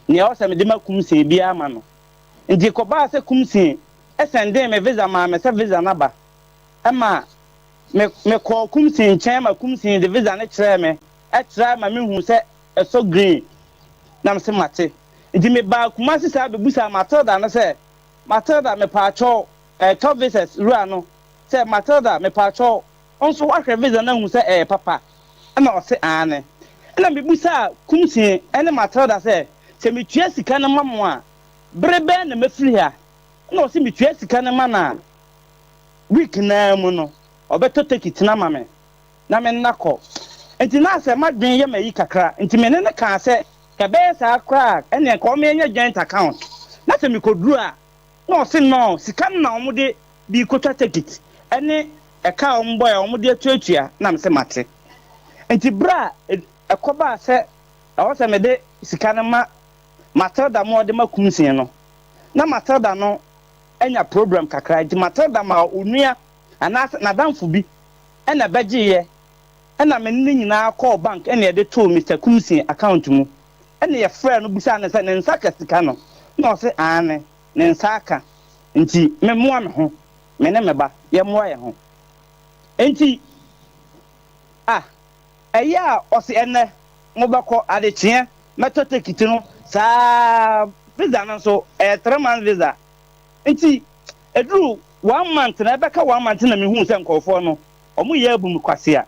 nea ɔsɛ mede ma Kumsee biara ama no. Nti ɛkɔbaa sɛ Kumsee sɛndee me visa maa me sɛ visa no aba. Ɛma me me kɔɔ Kumsee nkyɛn ma Kumsee de visa no kyerɛɛ me, ɛtrae ma me huu sɛ ɛsɔ green na me se mate. Nti me baa Kumasi saa bɛ busaa Matilda no sɛ Matilda me paakyɛw ɛɛ tɔ visas wura no sɛ Matilda me paakyɛw Wo nso woahwɛ visa no ahu sɛ ɛyɛ papa? Ɛnna ɔse, Aane. Ɛnna mebisaa Kumsie ne Matilda sɛ, Sɛ metua sika no ma mo a, bere bɛn na mɛfiri ha? Ɛnna ɔse, Metua sika no ma no a, week no ara mu no, ɔbɛtɔ turkey tena ma me, na me nna kɔ. Enti na sɛ m'adwene yɛ me ayi kakra, enti me ne no kaa sɛ, Sɛ ɛbɛyɛ saa koraa a, ɛnneɛ nka ɔma yɛnyɛ joint account, na sɛ mekɔduru a, Ɛna ɔse nɔɔ sika no na wɔn de biikotwa tekit ɛne ɛka a wɔn bɔɛ a wɔn de atuatua na mese mate nti bere a ɛkɔbaa sɛ ɛwɔ sɛ mede sika no ma Matilda ma ɔde ma Kumsee no na Matilda no anya problem kakra nti Matilda maa onua anaase nadamfo bi ɛna ɛbɛgyeeɛ Ɛna me ne no nyinaa kɔɔ bank ɛna yɛde too Mister Kumsey account mu. Ɛna yɛfrɛɛ no bisaa no sɛ ne nsa ka sika no, ɛna ɔse aane, ne nsa aka, nti me mmoa me ho, me ne me ba yɛ mmoa yɛn ho. Nti ah, ɛyɛ a ɔse ɛnnɛ mo bɛkɔ, adekyeɛ mɛtɔ tekiti no saa ara, visa no nso ɛyɛ three months visa. Nti ɛduru one month na ɛbɛka one month na me huu sɛ nkorɔfoɔ no Ɔmo yɛ abu me kwasea.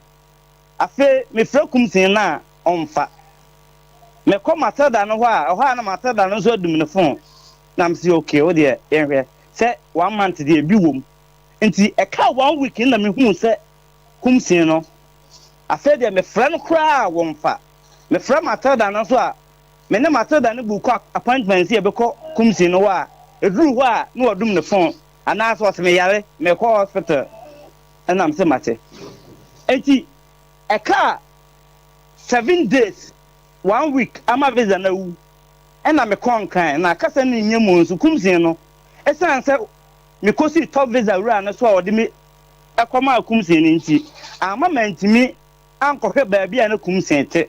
Afei mefrɛ kumsini no a ɔmfa. Mekɔ Matilda no hɔ a, ɛhɔ a na Matilda no nso adum ne fon. Na mese okay, wo deɛ yɛnhwɛ sɛ one month deɛ bi wom. Nti ɛkaa one week no na mehuu sɛ kumsini no, afei deɛ mefrɛ no koraa a wɔmfa. Mefrɛ Matilda no nso a, me ne Matilda no book appointment sɛ yɛbɛkɔ kumsini no hɔ a, ɛduru hɔ a na wadum ne fon anaasɛ ɔse meyare, mekɔ hospital. Ɛna mese mate. Enti ɛkaa seven days, one week ama visa no awu ɛna mekɔɔ Nkran na kasa no nyɛ mu nso Kumsii no ɛsiane sɛ mekɔsii top visa wura no so a ɔde me kɔmaa Kumsii no nti amma mantumi ankɔhwɛ baabi a na Kumsii te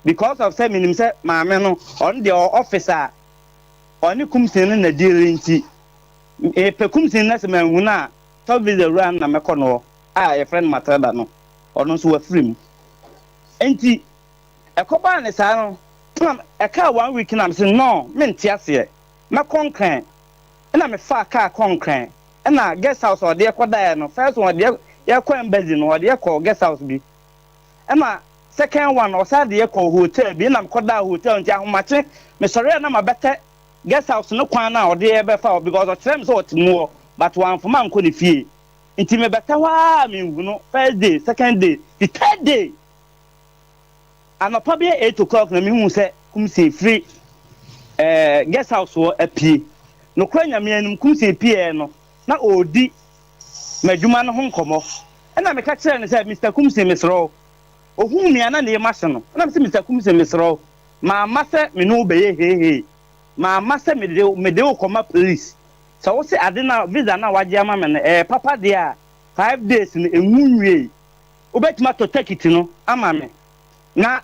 because of sɛ menim sɛ maame no ɔno deɛ ɔwɔ office a ɔne Kumsii no na deal nti mepɛ Kumsii no na sɛ manhunu a Tɔ visa wura no na mɛkɔ noɔ a yɛfrɛ no Matilda no, ɔno nso wafiri mu. Enti ɛkɔbaa no saa no, ɛna ɛkaa one week no a mese no mente aseɛ, mɛkɔ Nkran. Ɛna mefaa kaa kɔɔ Nkran, ɛna guest house a ɔde yɛ kɔdaeɛ no, first one ɔde yɛ yɛkɔ embassy no, ɔde yɛ kɔɔ guest house bi. Ɛna second one ɔsan de yɛ kɔɔ hotel bi, ɛna mekɔdaa hotel nti ahomakye mesɔreɛ a na mabɛtɛ Guest house no kwan na ɔde yɛ bɛfa hɔ because ɔkyerɛɛ me sɛ ɔte mu hɔ but wamfama ankɔ ne fie nti me bɛtɛ hɔ aa menhu no first day second day the third day anɔpa bɛyɛ eight o'clock na mehuu sɛ Kumsee firi ɛɛ guest house hɔ apue nokorɛ Nyame anim Kumsee pieɛ no na ɔredi m'adwuma no ho nkɔmɔ ɛna meka kyerɛɛ no sɛ Mister Kumsee mesrɛ wo ohuu me a na ne yam ahye no ɛna me sɛ Mister Kumsee mesrɛ wo Mamma sɛ me ne wo bɛyɛ heehee Mamma sɛ mede wo, mede wo kɔma police Sɛ wo se ade no a, visa no a wagye ama me no ɛyɛ papa deɛ a Five days no ɛnwu nwiei Wobɛtumi atɔ tekiti no ama me na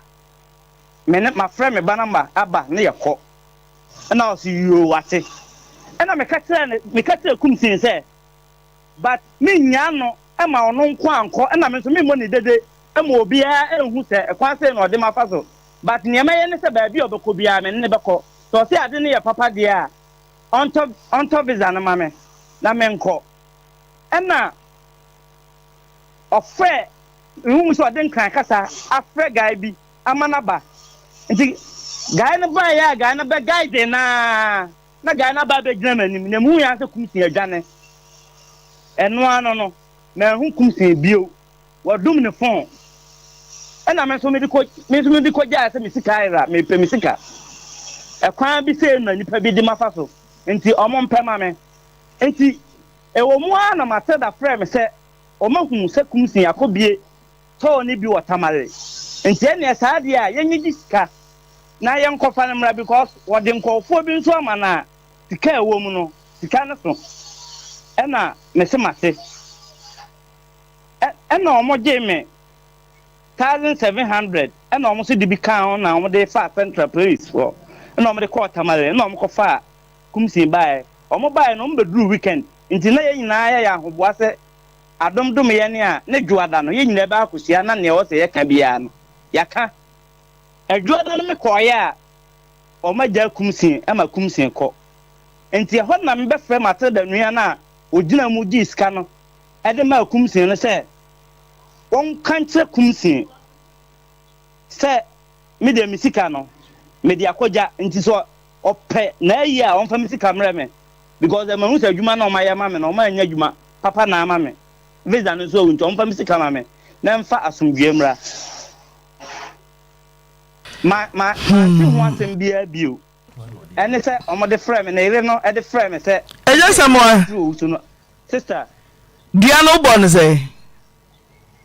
me ne, mafrɛ me ba na ma aba na yɛkɔ Ɛna ɔse yoo wate Ɛna meka kyerɛɛ no, meka kyerɛɛ Kumsin sɛ, But me nyaa no ma ɔno nko ankɔ ɛna me nso me mmɔ ne dede ma obiara nhu sɛ kwan sei na ɔde mafa so but neɛ mɛyɛ ne sɛ baabi a ɔbɛkɔ biara me ne no bɛkɔ sɛ ɔse ade no yɛ papa deɛ a ɔntɔ ɔntɔ visa no ma me na me nkɔ ɛna ɔfrɛ mehu sɛ ɔde nkran kasa afrɛ guy bi ama no aba nti guy no baeɛ a guy no bɛ guide no ara. Na gyae no aba abɛgyina m'anim, na mehuu ara sɛ kumsee adwane. Ɛno ara no no, manhu kumsee bio. Wɔdum ne fon. Ɛnna me nso mede kɔ, me nso mede kɔgyae sɛ me sika ayera, mepɛ me sika. Ɛkwan bi sɛɛ na nnipa bi de mafa so, enti wɔmpɛ ma me. Enti, ɛwɔ mu ara na Matilda frɛɛ me sɛ ɔmahu sɛ kumsee akɔbue. tɔɔ ne bi wɔ Tamale nti ɛneɛ saa deɛ a yɛnyɛ gye sika na yɛnkɔfa no mmra because wɔde nkɔɔfoɔ bi nso ama no a sika a ɛwɔ mu no sika no so ɛna mese mate ɛna wɔn gyee me thousand seven hundred ɛna wɔn nso de bi kaa ho na wɔn de faa central police foɔ ɛna wɔn de kɔɔ Tamale ɛna wɔn kɔfaa kumsin baeɛ wɔn baeɛ no wɔn bɛduru weekend nti na yɛn nyinaa yɛyɛ ahoboa sɛ Adom dom yɛn a ne Dwoada no yɛn nyinaa bɛ akɔhyia na nea ɔwɔ sɛ yɛka biara no yɛaka. Dwoada no me kɔeɛ a wɔn agyaa Kumsin ma Kumsin kɔ. Nti ɛhɔ na me bɛ frɛ Matilda nua no a ɔgyinaa mu gyee sika no de maa Kumsin no sɛ wɔn ka nkyerɛ Kumsin sɛ me deɛ me sika no me de akɔ gya nti sɛ Ɔpɛ na ayi a ɔmfa me sika mrɛ me because mahu sɛ adwuma na ɔmayɛ ama me no ɔma anya adwuma papa na ama me visa no nso awu nti ɔmfa me sika ma me na ɛmfa asomdwoeɛ mmra. Ma ma mante ho asɛm biara bio ɛne sɛ ɔmode frɛ me ne yere no de frɛ me sɛ ɛnyɛ sɛ mo a owu so no sister. Dua no wobɔ no sɛ?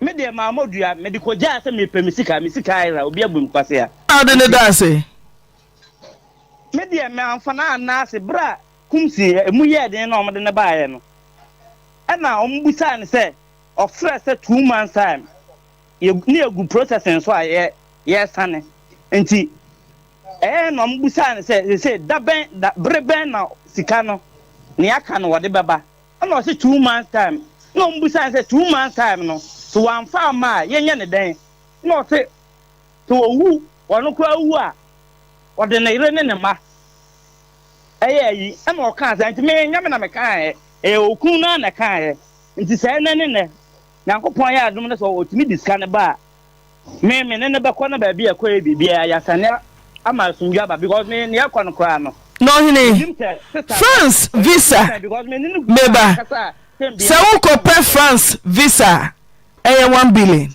Me deɛ maa mɔ dua mede kɔgyaa sɛ mepɛ me sika me sika ayera obi abu me kwasea. Na wode no daa ase? Me deɛ me anfa no anna ase berɛ a Kumsi a ɛmu yɛɛ den na wɔde no baeɛ no ɛna wɔn bisaa no sɛ ɔfrɛ sɛ two months time yɛ ne yɛgu processing so a yɛ yɛresane nti ɛyɛ na wɔn bisaa no sɛ sɛ da bɛn da bere bɛn na sika no ne aka no wɔde bɛba ɛna ɔsɛ two months time na wɔn bisaa no sɛ two months time no so wɔamfa ama a yɛnyɛ ne dɛn na ɔsɛ Sɛ owu, ɔno koraa wu a, ɔde ne yere ne ne mma yɛ ayi. Ɛnna ɔkaa sɛ, Enti me, ɛnyɛ me na mekaeɛ, ɛyɛ okunu no ara na ɛkaeɛ. Enti sɛ ɛnnɛ ne nnɛ Nyankopɔn ayɛ adom na sɛ ɔtumi de sika no ba a, me, me ne no bɛkɔ na baabi a ɛkɔeɛ biribiara, yɛasane ama asomdwoeɛ aba, because me, nea ɛrekɔ no koraa no, Na ɔhene, menim sɛ sesa no, France ɔyɛ visa, Christian, because me ne no gu me ba, a kasa a sɛ sɛ biara wokɔpɛ France visa a, ɛyɛ one billion.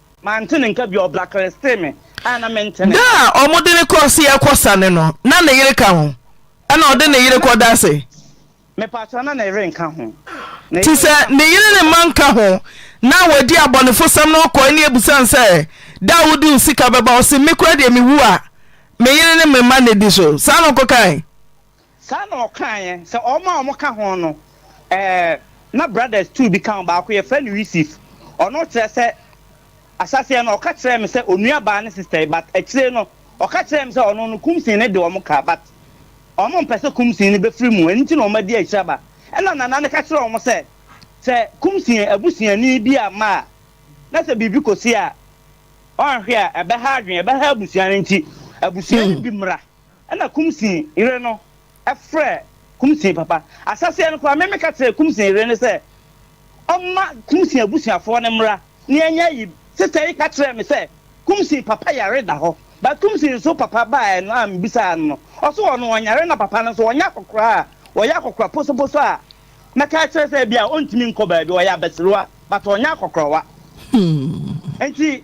Mante ne nka bio, ɔbra klesee me a na mente ne nka. Da a wɔde no kɔɔ se ɛkɔ sa no no, na ne yere ka ho? Ɛna ɔde ne yere kɔda ase? Mepakyɛw, na ne yere nka ho. Te sɛ ne yere ne mma nka ho, na wadi abɔnefosɛm no kɔe ne abusa no sɛ, Da a wode wo sika bɛba, ɔse, Me koraa deɛ mewu a, me yere ne me mma na ɛdi so. Saa na ɔkɔkae? Saa na ɔkaeɛ, sɛ wɔn a wɔka ho no, ɛɛ, na brothers two bi ka ho, baako yɛfrɛ no Yusif, ɔno kyerɛ sɛ, ahyɛaseɛ no ɔka kyerɛɛ me sɛ onua baa ne sister yi, but akyire no ɔka kyerɛɛ me sɛ ɔno no kumsii no de wɔn ka, but wɔn mpɛ sɛ kumsii no bɛfiri mu, ɛno nti na wɔn adi akyiraba, ɛna Nana no ka kyerɛɛ wɔn sɛ, sɛ kumsii abusuani bi amma a, na sɛ biribi kɔsi a, wɔanhwɛ a ɛbɛha adwene, ɛbɛha abusua no, nti abusua no bi mmra. Ɛna Kumsin yere no frɛɛ Kumsin papa. Ahyɛseɛ no koraa me meka kyerɛɛ Kumsin yere no sɛ ɔmma Kumsin abusuafoɔ no mmra na yɛnyɛ ayi. Sister yi ka kyerɛɛ me sɛ Kumsin papa yare da hɔ but Kumsin nso papa baeɛ no a mebisaa no no ɔse ɔno ɔnyare na papa no nso ɔnyɛ akɔkora a ɔyɛ akɔkora posoposo a mɛka akyerɛ sɛ bia ɔntumi nkɔ baabi ɔyɛ abasiriwa but ɔnyɛ akɔkorawa nti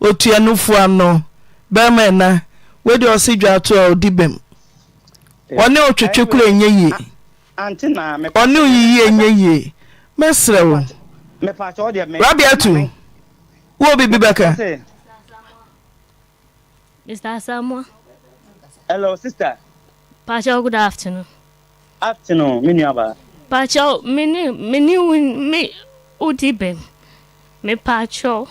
Otuanofo ano bɛrima ɛna wei deɛ ɔse dwa ato a ɔdi bɛm ɔne wo twetwe kora ɛnyɛ yie ɔne wo yiyi ɛnyɛ yie mɛsrɛ wo Rabiatu wo obi bi bɛka Mr. Asamoah Hello sister Pastor good afternoon Afternoon, me nuabaa. Pakyɛw, me ne, me ne wo, me, wo di bem. Me pakyɛw.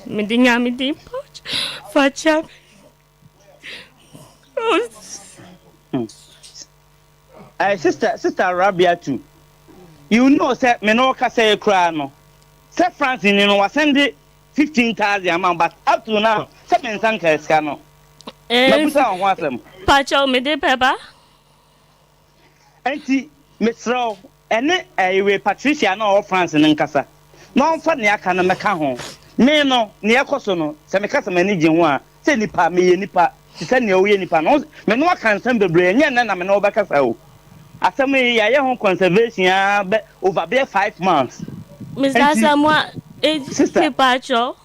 Me de Nyame din pakyɛw, fa kyɛ me. Hmm. Ɛɛ, sister, sister Rabiatu, you know sɛ me ne wo kasa yi koraa no, sɛ France ni no, wasan de fifteen thousand ama wo but up to now sɛ me nsa nkaa sika no mabusa wo ho asɛm. Pakyɛw mede bɛba. Nti mesrɛ wo ɛne ɛyi wei Patricia no a ɔwɔ France no nkasa na ɔmfa nea aka no mmɛka ho. Me no nea ɛkɔ so no sɛ meka sɛ m'ani gye ho a Sɛ nipa, meyɛ nipa te sɛ nea woyɛ nipa no. Me ne wo aka nsɛm bebree, ɛnyɛ nnɛ na me ne wo bɛkasa o. Asɛm yi, yɛayɛ ho conservation ara bɛ over bɛyɛ five months. Miss Enti, Asamoah, eh, sister, mepatwɔ,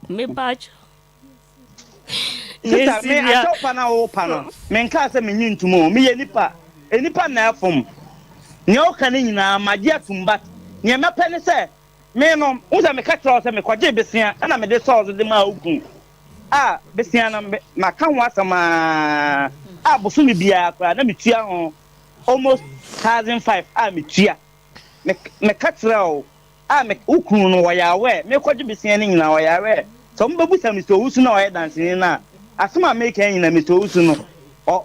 mepatwɔ, ne sister, me nsibea. akyɛwpa no a worepa no, menkaa sɛ mennye ntom o. Meyɛ nipa, nnipa na ɛfom. Nea woka no nyinaa, magye atom but nea mɛpɛ ne sɛ Me no, wohu sɛ meka kyerɛɛ wo sɛ mekɔgyee bosea na mede sɔɔ so de maa wo kunu a bosea no maka ho asɛm ara a bosome biara koraa na metua ho almost thousand five a metua. Me, meka kyerɛɛ wo a me, wo kunu no ɔyare a mekɔgye bosea no nyinaa ɔyare a sɛ wɔbɛbusa Mister Owusu no a ɔyɛ danseni no a asɛm a meka nyinaa Mister Owusu no ɔ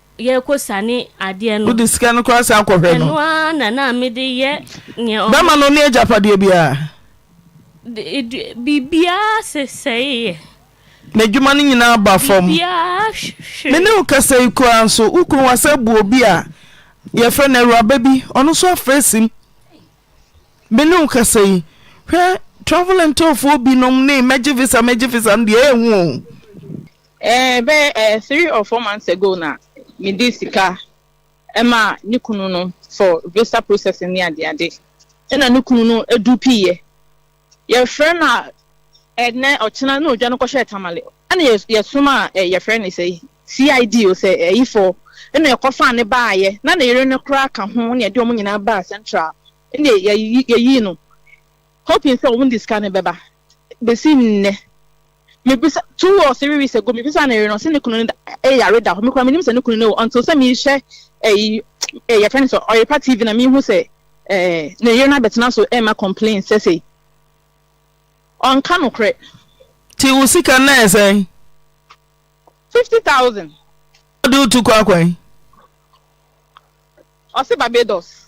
yɛrekɔ sane adeɛ no. Wode sika no koraa san kɔhwɛ no. Ɛno ara na na mede yɛ neɛ ɔmo. Bɛma no ne agyapadeɛ biara. Biribiara sesɛeɛ. N'adwuma no nyinaa ba fam. Biribiara hwere. Me ne wo kasa yi koraa nso, wo kunu wasan abu obi a yɛfrɛ no awuraba bi, ɔno nso afra sim. Me ne wo kasa yi, hwɛ travel and tourfoɔ binom ne mɛgye visa mɛgye visa no deɛ ɛyɛ hu o. Eh bɛyɛ eh three or four months ago na me de sika ɛma ne kunu no for visa processing ne ade ade ɛna ne kunu no edu pii yɛ yɛfrɛ no a ɛnɛ ɔkyena na odwa no kɔhyɛ tamale ɛna yɛ yɛsom a eh yɛfrɛ no sɛ CID o sɛ ɛyifɔ ɛna ɛkɔfa ne baayɛ na ne yere no koraa ka ho na yɛde wɔn nyinaa baa central ɛna yɛyi yɛyi no hoping sɛ wɔn de sika no bɛba besi nnɛ. Mebisa, two or three weeks ago, mebisa ne yere no, ɔse ne kunu no da, eh, yare da hɔ. Me koraa menim sɛ ne kunu no awu until sɛ mehwɛ ɛyi, eh, yɛfrɛ no sɛ Ɔyepa TV na mehu sɛ, eh, ne yere no abɛtena so ɛma complain sɛ sei. Ɔnka nokorɛ. Nti wo sika no ɛyɛ sɛn? Fifty thousand. Ɔde wo tu kɔ akwan? Ɔse Barbados.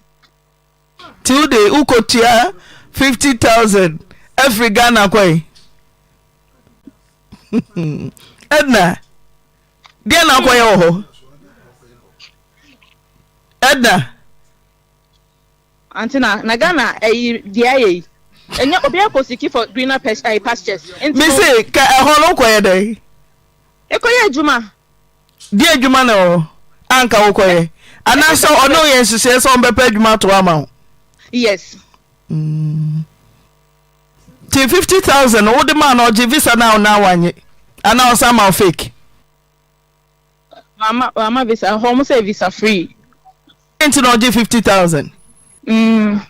Nti wo de wo kɔ tua fifty thousand afiri Ghana kɔ yi. Edna, deɛ na akɔ yɛ wɔ hɔ? Edna. Ante na na Ghana ɛyi deɛ ayɛ yi. Ɛnyɛ obi akɔ siki for greener pastures. Mese ka ɛhɔ no kɔ yɛ dɛ? Ekɔyɛ adwuma? Deɛ adwuma na ɛwɔ hɔ a nka wokɔyɛ? Anaasɛ ɔne wo yɛ nhyehyɛeɛ sɛ ɔmbɛpɛ adwuma ato hɔ ama wo? Yes. Mm. Nti 50,000 no wode maa no ɔgye visa no a na wanye? Anaa ɔsan ma wo fake? Wama, wama visa. Hɔ ɔmo sɛ visa free. Nti na ɔgye 50,000? Mm.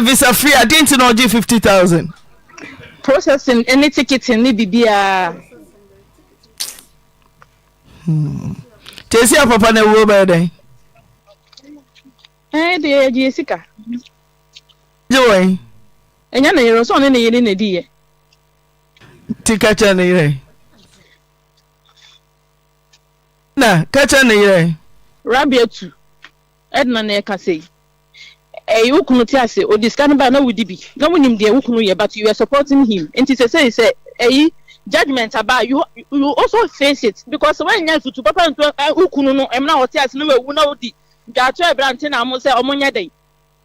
Visa free a den nti na ɔgye fifty thousand. Processing ne ticketing ne bibiaa. Hmm. Tesi a papa na ewuo bɛyɛ dɛn? Ɛɛ eh, deɛ yɛgye yɛ sika. Gye wɔn? Ɛnyɛ ne yere, ɔsɔɔ ne ne yere na di yɛ. Ti kɛkyɛ ne yere. Na kɛkyɛ ne yere. Rabi atu. Edna na ɛka sei. Ɛy wo kunu te ase, ɔde sika no bae na wodi bi, na wonim deɛ wo kunu yɛ but you were supporting him nti sesei sɛ ɛy judgement aba a you you also face it because sɛ woannya afutu papa antu ɛy wo kunu no ɛmena a ɔte ase na wawu na wodi dwaatoa a ɛbra nte na mo sɛ ɔmo nyɛ dɛn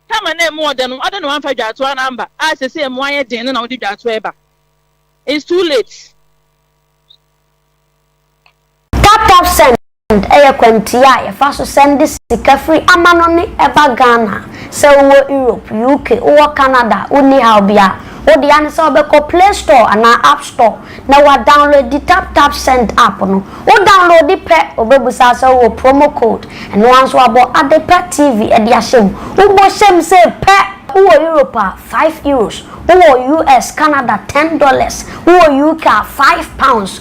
time a na ɛmu ɔdɛ no adɛn na woamfa dwaatoa no amba a sesei ɛmu ayɛ den no na wode dwaatoa ɛba it's too late. Tap tap send. Send yɛ kwantua a yɛfa so sɛnde sika firi amanɔne ba Ghana. Sɛ wowɔ Europe, UK, wowɔ Canada a, wonni haw biara. Wo dea ne sɛ wobɛkɔ Play Store anaa App Store na woadownloadi Tap Tap Send app no. Wo downloadi pɛ, ɔbɛbusa sɛ wowɔ promo code. Ɛno ara nso wɔabɔ Adepa TV de ahyɛ mu. Wobɔ hyɛ mu sei pɛ! Wowɔ Europe a, five Euros. Wowɔ US, Canada, ten dollars. Wowɔ UK a, five pounds.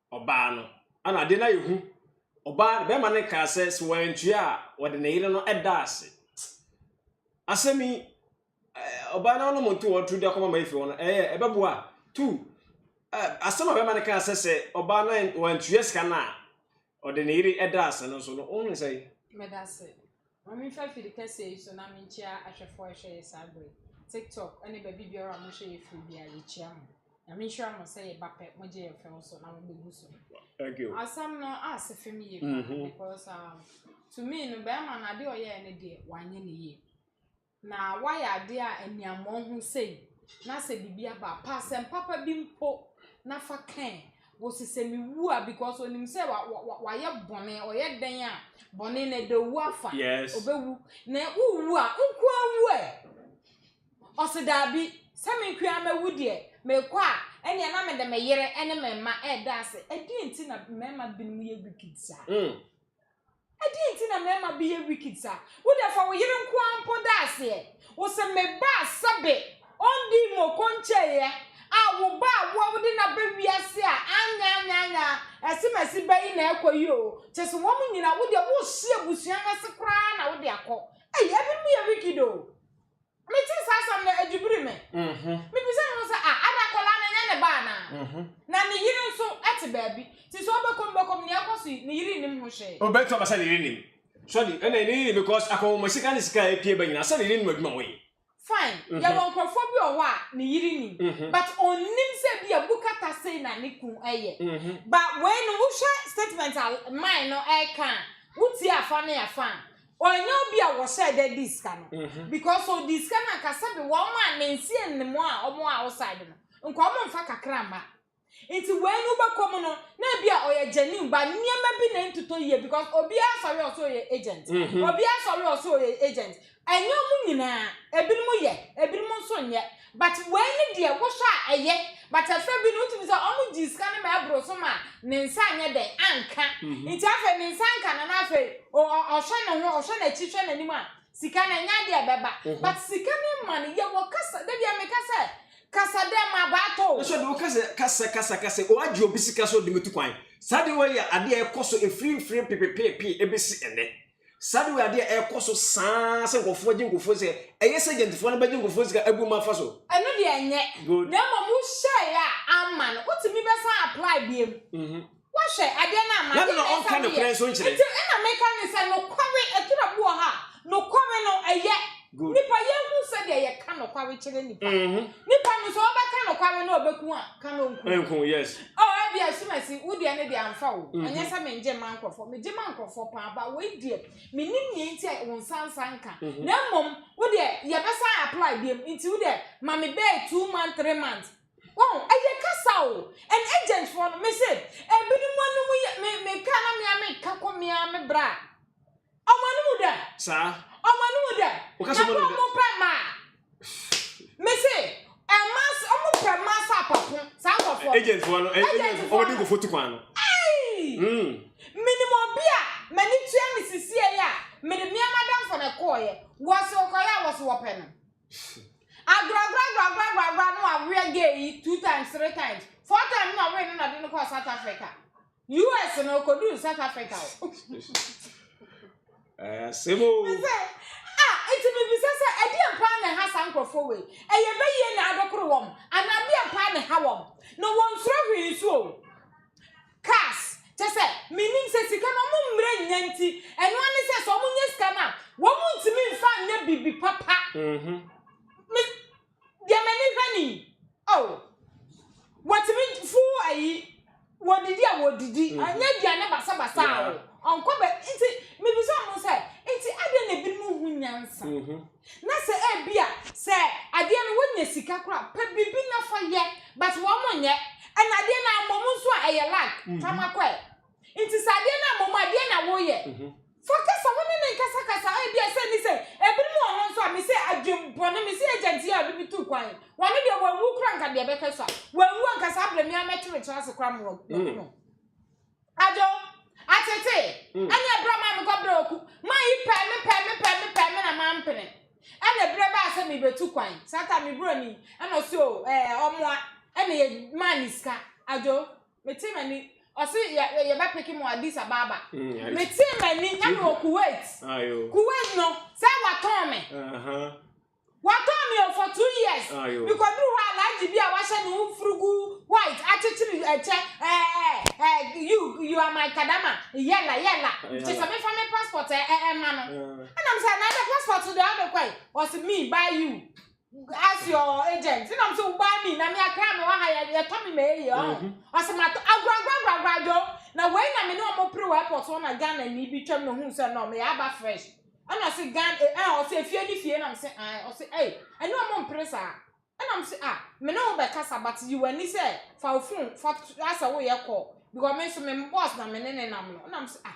ɔbaa no. Ɛna adeɛ no ayɛ hu. Ɔbaa, bɛrima no kaa sɛ, sɛ wantua a, ɔde ne yere no da ase. Asɛm yi, ɔbaa no anom nto wɔn turu de akɔma ma efi hɔ no, ɛyɛ, ɛbɛboa. Two, asɛm a bɛrima no kaa sɛ, sɛ ɔbaa no wantua sika no a, ɔde ne yere da ase no nso no, wohu no sɛn? Meda ase. Wɔremfa afiri kɛseɛ yi so na menkyia ahwɛfoɔ a ɛhwɛ yɛ saa berɛ yi, TikTok ne baabi biara a mohwɛ yɛ firi biara, yɛkyia mo. Nyame nhyira mo sɛ yɛba pɛ mogye yɛn fɛw so na mobɛgu so. Thank you. Asɛm no ase fem yie paa because um, to me no bɛrima no adeɛ ɔyɛɛ no deɛ wanyɛ no yie. Na woayɛ adeɛ a ani ammɔn ho sei, na sɛ biribi aba a, pɛ asɛm papa bi mpo na fa ka ɛ. Wɔse sɛ mewu a, because ɔnim sɛ wa, wa, wa, wayɛ bɔne, ɔyɛ dɛn a, bɔne no ɛda owu afa. Yes. Ɔbɛwu. Na wowu a, wo nko ara wu ɛ. Ɔse daabi, sɛ me nko ara mɛwu deɛ, mekɔ a, ɛnneɛ na mede me yere ne me mma reda ase. Ɛdeɛn nti na mmarima binom yɛ wicked saa? Mm. Adɛn nti na mmarima bi yɛ wicked saa? Wo deɛ fa wo yere nko ara mpo da aseɛ. Wo se me ba a sɛbe ɔndii moko nkyɛeɛ a wo ba a wo a wode no aba wiase a anyɛ anyɛ anyɛ a ɛse masi ba yi na ɛrekɔ yi oo kyɛ sɛ wɔn nyinaa wo deɛ worehye abusua no ase koraa na wode akɔ. Ei ɛbinom yɛ wicked oo. Metee saa asɛm no, edwibirii me. Mibisaa me ho sɛ, 'Ah, ada akwadaa no ɛnyɛ ne ba anaa? Na ne yere nso te baabi. Te sɛ ɔbɛkɔ mu bɛkɔ mu, nea ɛrekɔ so yi, ne yere nnim ho hwee. Obetumi aba sɛ ne yere nim. So ɔde, ɛnna ne yere nim because akɔnhoma sika ne sika a epue ba nyinaa, so ne yere nim adwuma a wɔyɛ? Fine, yɛwɔ nkurɔfoɔ bi wɔ hɔ a ne yere nim, but ɔnnim sɛ ebia bu kata sei na ne kunu yɛ. But wei no, wohwɛ statement a man no reka a, wotie afa ne afa a, Ɔnyɛ obi a wɔhyɛɛ da dii sika no, because ɔdii sika no anka sɛbe wɔn a nansie nnim a wɔwɔ outside no, nka wɔmfa kakra mma. Nti wei no wobɛkɔ mu no, na ebi a ɔyɛ genuine but nneɛma bi na ɛntotɔ yie because obiara sɔre ɔsɛ ɔyɛ agent, obiara sɔre ɔsɛ ɔyɛ agent. Ɛnyɛ wɔn nyinaa, ebinom yɛ, ebinom nso nyɛ. But wei ne deɛ wohwɛ a ɛyɛ but ɛfɛ bi no wotumi sɛ ɔmo gyee sika no ma ɛboro so ma ne nsa anyɛ dɛn anka nti afei ne nsa anka no na afei o- ɔ- ɔhwɛ ne ho ɔhwɛ n'akyi hwɛ n'anim a sika no ɛnyɛ adeɛ a ɛbɛba but sika no ma no yɛ wɔ kasa da bia meka sɛ kasa dɛ ma baato o. Nso de woka sɛ kasa kasa ka sɛ ɔagye obi sika sɛ ɔde bɛtu kwan. Saa adeɛ wei yɛ adeɛ a ɛkɔ so ɛfiri mfeɛ pepepeepee ɛbɛsi ɛnnɛ. Saa de wei adeɛ a ɛrekɔ so saa sɛ nkurɔfoɔ gye nkurɔfoɔ sika. Ɛyɛ sɛ agentfoɔ no bɛgye nkurɔfoɔ sika abu mu afa so. Ɛno deɛ ɛnyɛ. Good. Na mmom wo hyɛeɛ a amma no, wotumi bɛsan apply biom. Woahwɛ, adeɛ no amma. Na ɛno na ɔnka nokorɛ nso nkyerɛ. Nti ɛna meka ne sɛ nokware, aturo bi wɔ hɔ a nokware no ɛyɛ. Nnipa, yɛnhu sɛdeɛ yɛka nokware kyerɛ nnipa. Nnipa no, sɛ wɔbɛka nokware na wɔbɛku a, ka na wɔnku. O, ebia Sumasi, wo deɛ no deɛ amfa wo. Ɛnyɛ sɛ mengye mma nkurɔfoɔ, megye ma nkurɔfoɔ paa, but wei deɛ, mennim nea nti a wo nsa nsa nka. Na mmom, wo deɛ, yɛbɛsan apply biom, nti wo deɛ, ma me bɛyɛ two months, three months. Wahu? Ɛyɛ kasa o. And agent foɔ no, mese, ebinom anom yɛ, me, meka na me ara meka kɔ me ara me bra. Ɔmo anim wu dɛm. Saa. Ɔmo anim wu dɛm. Woka sɛ Na ɔmo kɔ anim dɛm. ɔmo pɛ mmaa. Mese, ɛmaa sɛ ɔmo pɛ mmaa sɛ apapo. Saa nkorɔfoɔ no. Agent foɔ no, ɛ- Agent agent foɔ, foɔ wɔde no. nkurɔfoɔ tu kwan no. Ei! Mm. Menim obi a m'ani tua no sisiei a mede mea m'adamfo no kɔeɛ. Wɔse ɔkɔeɛ a wɔse wɔpɛ no. Agorɔagorɔagorɔagorɔagorɔ na wɔaweɛ gay yi two times, three times, four times na wɔwee no na ɔde no kɔɔ South Africa. US no okoduu South Africa o. Ɛɛ asɛm o. Sɛ a nti mibisa sɛ ɛdeɛn paa na ɛha saa nkurɔfoɔ wei? Ɛyɛ bɛyie na abɛkoro wɔn anaa deɛn paa na ɛha wɔn? Na wɔnsuro hwee nso o. Cars kyɛ sɛ menim sɛ sika no wɔn mmerɛ nnya nti ɛno ara ne sɛ sɛ wɔnya sika no a wɔn ntumi mfa nyɛ biribi papa. Mm-hmm. Me Deɛ m'ani hwɛ ni. Oh, wɔtumi fu ayi, wɔdidi a wɔdidi, mm-hmm. anyɛ aduane basabasa yeah. o, ɔnkɔ bɛ, nti mebisa ɔmo sɛ, nti adɛn na ebinom hu nyansa? Mm-hmm. Na sɛ ebi a, sɛ adeɛ no wonya sika kora, pɛ biribi na fa yɛ, but wɔn nyɛ, ɛna adeɛ no amɔ mu nso a ɛyɛ lag, mm-hmm. fa ma kɔɛ. Nti sɛ adeɛ no amɔ mu, adeɛ na woyɛ. Fa kasa ho ne ne nkasa kasa, ebia sɛ nni sɛ, ebinom wɔ hɔ nso a mise adwen bɔne, mise agent yi a ɔde me tuu kwan yi, wɔne deɛ wanwu kora nka deɛ ɛbɛka so a, wanwu anka saa berɛ me ara mɛtwe me tra ase kora ma waku hmm. no. Adwo, atete, hmm. ɛne ɛberɛ maa mekɔ berɛ waku, ma yi pɛɛ me pɛɛ me pɛɛ me pɛɛ me na mampene. Ɛna ɛberɛ baa sɛ mebɛtu kwan, saa ta me broni, ɛna ɔsi o, ɛɛ, ɔmoa, ɛna yɛ maa ne sika, adwo, Mete m'ani. Ɔsi yɛ yɛ bɛ peke mo Addis Ababa. Mete m'ani ɛna wɔ Kuwait. Kuwait no sɛ watɔn me. Watɔn me o for two years. Mekɔduru hɔ alaaji bi a wahyɛ ne ho furugu white akyekyere ɛkyɛ ɛɛ ɛɛ you you are my kadama yɛla yɛla. Kyɛ sɛ mefa me passport ɛɛ ɛma no. Ɛna mo sɛ na ɛbɛ passport deɛ ɔde kɔe. Ɔsi me buy you. As your agent. Nna m sɛ wo baa mi na me akra me wɔ ha yɛ yɛtɔ me ma eye ɔho. Mhm. Ɔsɛ ma tɔ agoragoragoragora dwo. Na wei na me ne ɔmo pere wɔ airport hɔ na Ghana ni bi twam na ohun sɛ no meyɛ aba fresh. Ɛna ɔsɛ Ghana eh eh ɔsɛ efie ne fie na m sɛ ae ɔsɛ ei ɛne ɔmo mpere saa. Ɛna m sɛ ah me ne wo bɛkasa but yi w'ani sɛ fa wo phone fa t asɛ woyɛ call because me nso me boss na me ne ne nam no. Ɛna m sɛ ah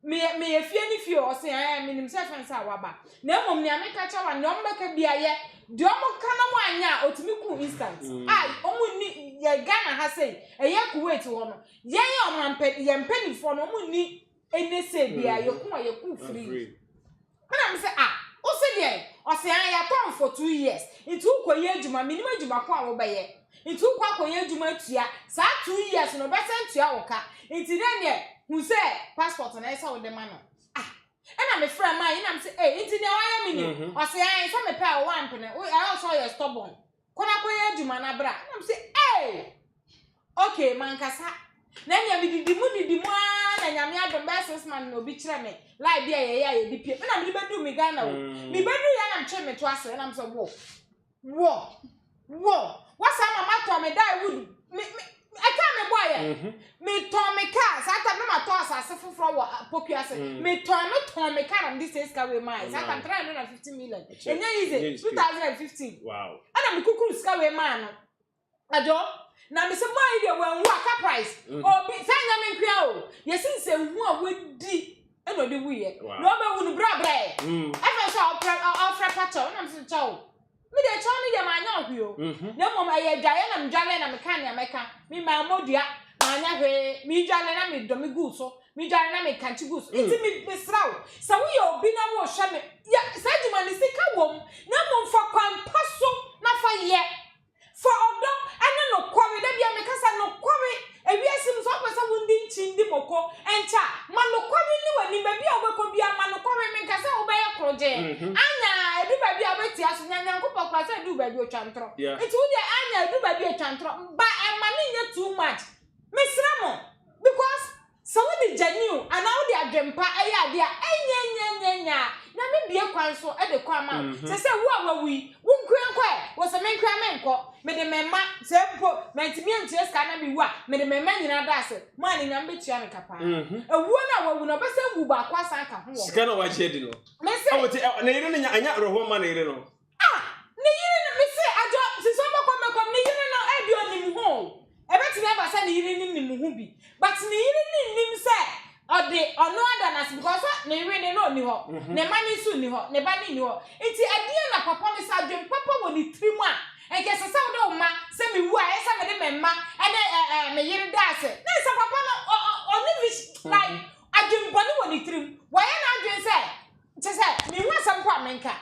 Meyɛ, meyɛ fie ne fie o? Ɔse, Ɛɛ, menim sɛ ɛfɛn sɛ woaba. Na mmom nea meka kyerɛ wo a, nea wɔbɛka biara yɛ. Deɛ wɔka na woanyɛ a, ɔtumi ku wo instant. A, wɔn nni, yɛ Ghana ha sei, ɛyɛ Kuwait hɔ no, yɛn ɔmampa, yɛn mpanimfoɔ no, wɔn nni ɛnɛ sei biara, yɛku a, yɛku free. Ɛna me se ah wo se deɛn? Ɔse aah yɛatɔn for two years nti wo kɔ yɛ adwuma menim adwuma ko a wo bɛyɛ nti wo kɔ akɔ yɛ adwuma tua saa two years no ɔbɛsan tua wo ka nti dɛn deɛ hu sɛ passport no ɛsɛ wo de ma no ah Ɛna me frɛ Mai ɛna me se eh nti deɛ wayɛ menim Ɔse aah sɛ mepɛ a wo ampene wo ɛyɛ wo sɛ ɔyɛ stubborn Kɔ na kɔyɛ adwuma na bra. Na ɔmo se, Ei! Okay, mankasa. Na ɛnea me didi mu didi mu aa na Nyame adom bɛyɛ six months na obi kyerɛ me line bi a yɛyɛ a yɛde pie. Ɛna mede bɛduu me Ghana o. Me bɛduu yɛ na metwee me to ase ɛna me sɛ, Wɔ! Wɔ! Woasan ma matɔ me die wood me me. Ɛkaa me bɔɔ yɛ. Metɔn me kaa, saa tam no na matɔ asase foforɔ wɔ Poku ase. Metɔn no tɔn me kaa na mede sɛ sika wei maa yɛ. Saa tam 350 million. Ɛnyɛ easy, 2015. Wow. Ɛna mekukuru sika wei maa no. Adwo, na mesɛ boy yi deɛ wanwu a car price. Obi, saa nyɛ me nkoa o. Yɛsi nsɛ hu a wadi ɛna ɔde wuiɛ. Na ɔbɛwu no brɛ brɛ. Afei nso a ɔfrɛ pakyɛw, ɛna mesɛ kyɛw. Me deɛ kyɛw no deɛ manyɛ ɔhwe o. Mhm. Na mmom ɛyɛ adwaeɛ na medwareɛ na meka nea mɛka. Me maa mmɔdua, manyɛ hwee. Medware na medɔ me gu so. Medware na mekankye gu so. Mm. Nti me mesrɛ wo, sɛ woyɛ obi na worehwɛ me, yɛ saa adwuma no sika wom, na mmom fa kwan pa so na fa yɛ. Fa ɔdɔ ne nokware, da biara meka sɛ nokware, ewiase mu sɛ wopɛ sɛ wodi nkyindi moko nkyɛ a, ma nokware nni w'anim, baabi a wobɛkɔ biara ma nokware, menka sɛ wobɛyɛ korogyenn, Anya, ɛdu baabi a wobɛte aso nya Nyankopɔn koraa sɛ ɛduu baabi ɔtwa ntorɔ, nti wo deɛ Anya ɛdu baabi a ɛtwa ntorɔ, ba ɛmma no nyɛ too much, mesrɛ mo, because. Sɛ wode gyaniu anaa wode adwempa yɛ ade a, ɛnyɛ nyanyanyan a, na mebue kwan so de kɔ ama wo. Te sɛ wo a woawu yi, wo nko ara nkɔ ɛ? Wo se menko ara menkɔ? Mede me mma, sɛ mpo mantumi antua sika no na mewu a, mede me mma nyinaa da ase ma Anuonyam bɛtua me ka paa. Awuo no a wawu no, ɔbɛsan wu baako asan aka ho wɔ hɔ. Sika no a wagye adi no, ɔte, ne yere no nya, ɛnyɛ awerɛhoɔ mma ne yere no. Ah ne yere no me se adwo sisɔ bɔkɔ mɛkɔm ne yere no ebi onim ho o ebetumi aba sɛ ne yere no nim ho bi but ne yere no nnim sɛ ɔde ɔno ada no ase because sɛ ne yere de no ɔnni hɔ ne mma no nso nni hɔ ne ba no nni hɔ nti ɛdeɛn na papa no sɛ adwen papa wɔ ne tiri mu a nka ɛsɛ sɛ wode wo mma sɛ me wu a ɛyɛ sɛ mede me mma ɛne ɛɛ me yere da ase na ɛsɛ papa no ɔ ɔ ɔne me like adwen bɔne wɔ ne tiri mu wɔyɛ n'adwen sɛ kyɛ sɛ me hu asɛm po a menka.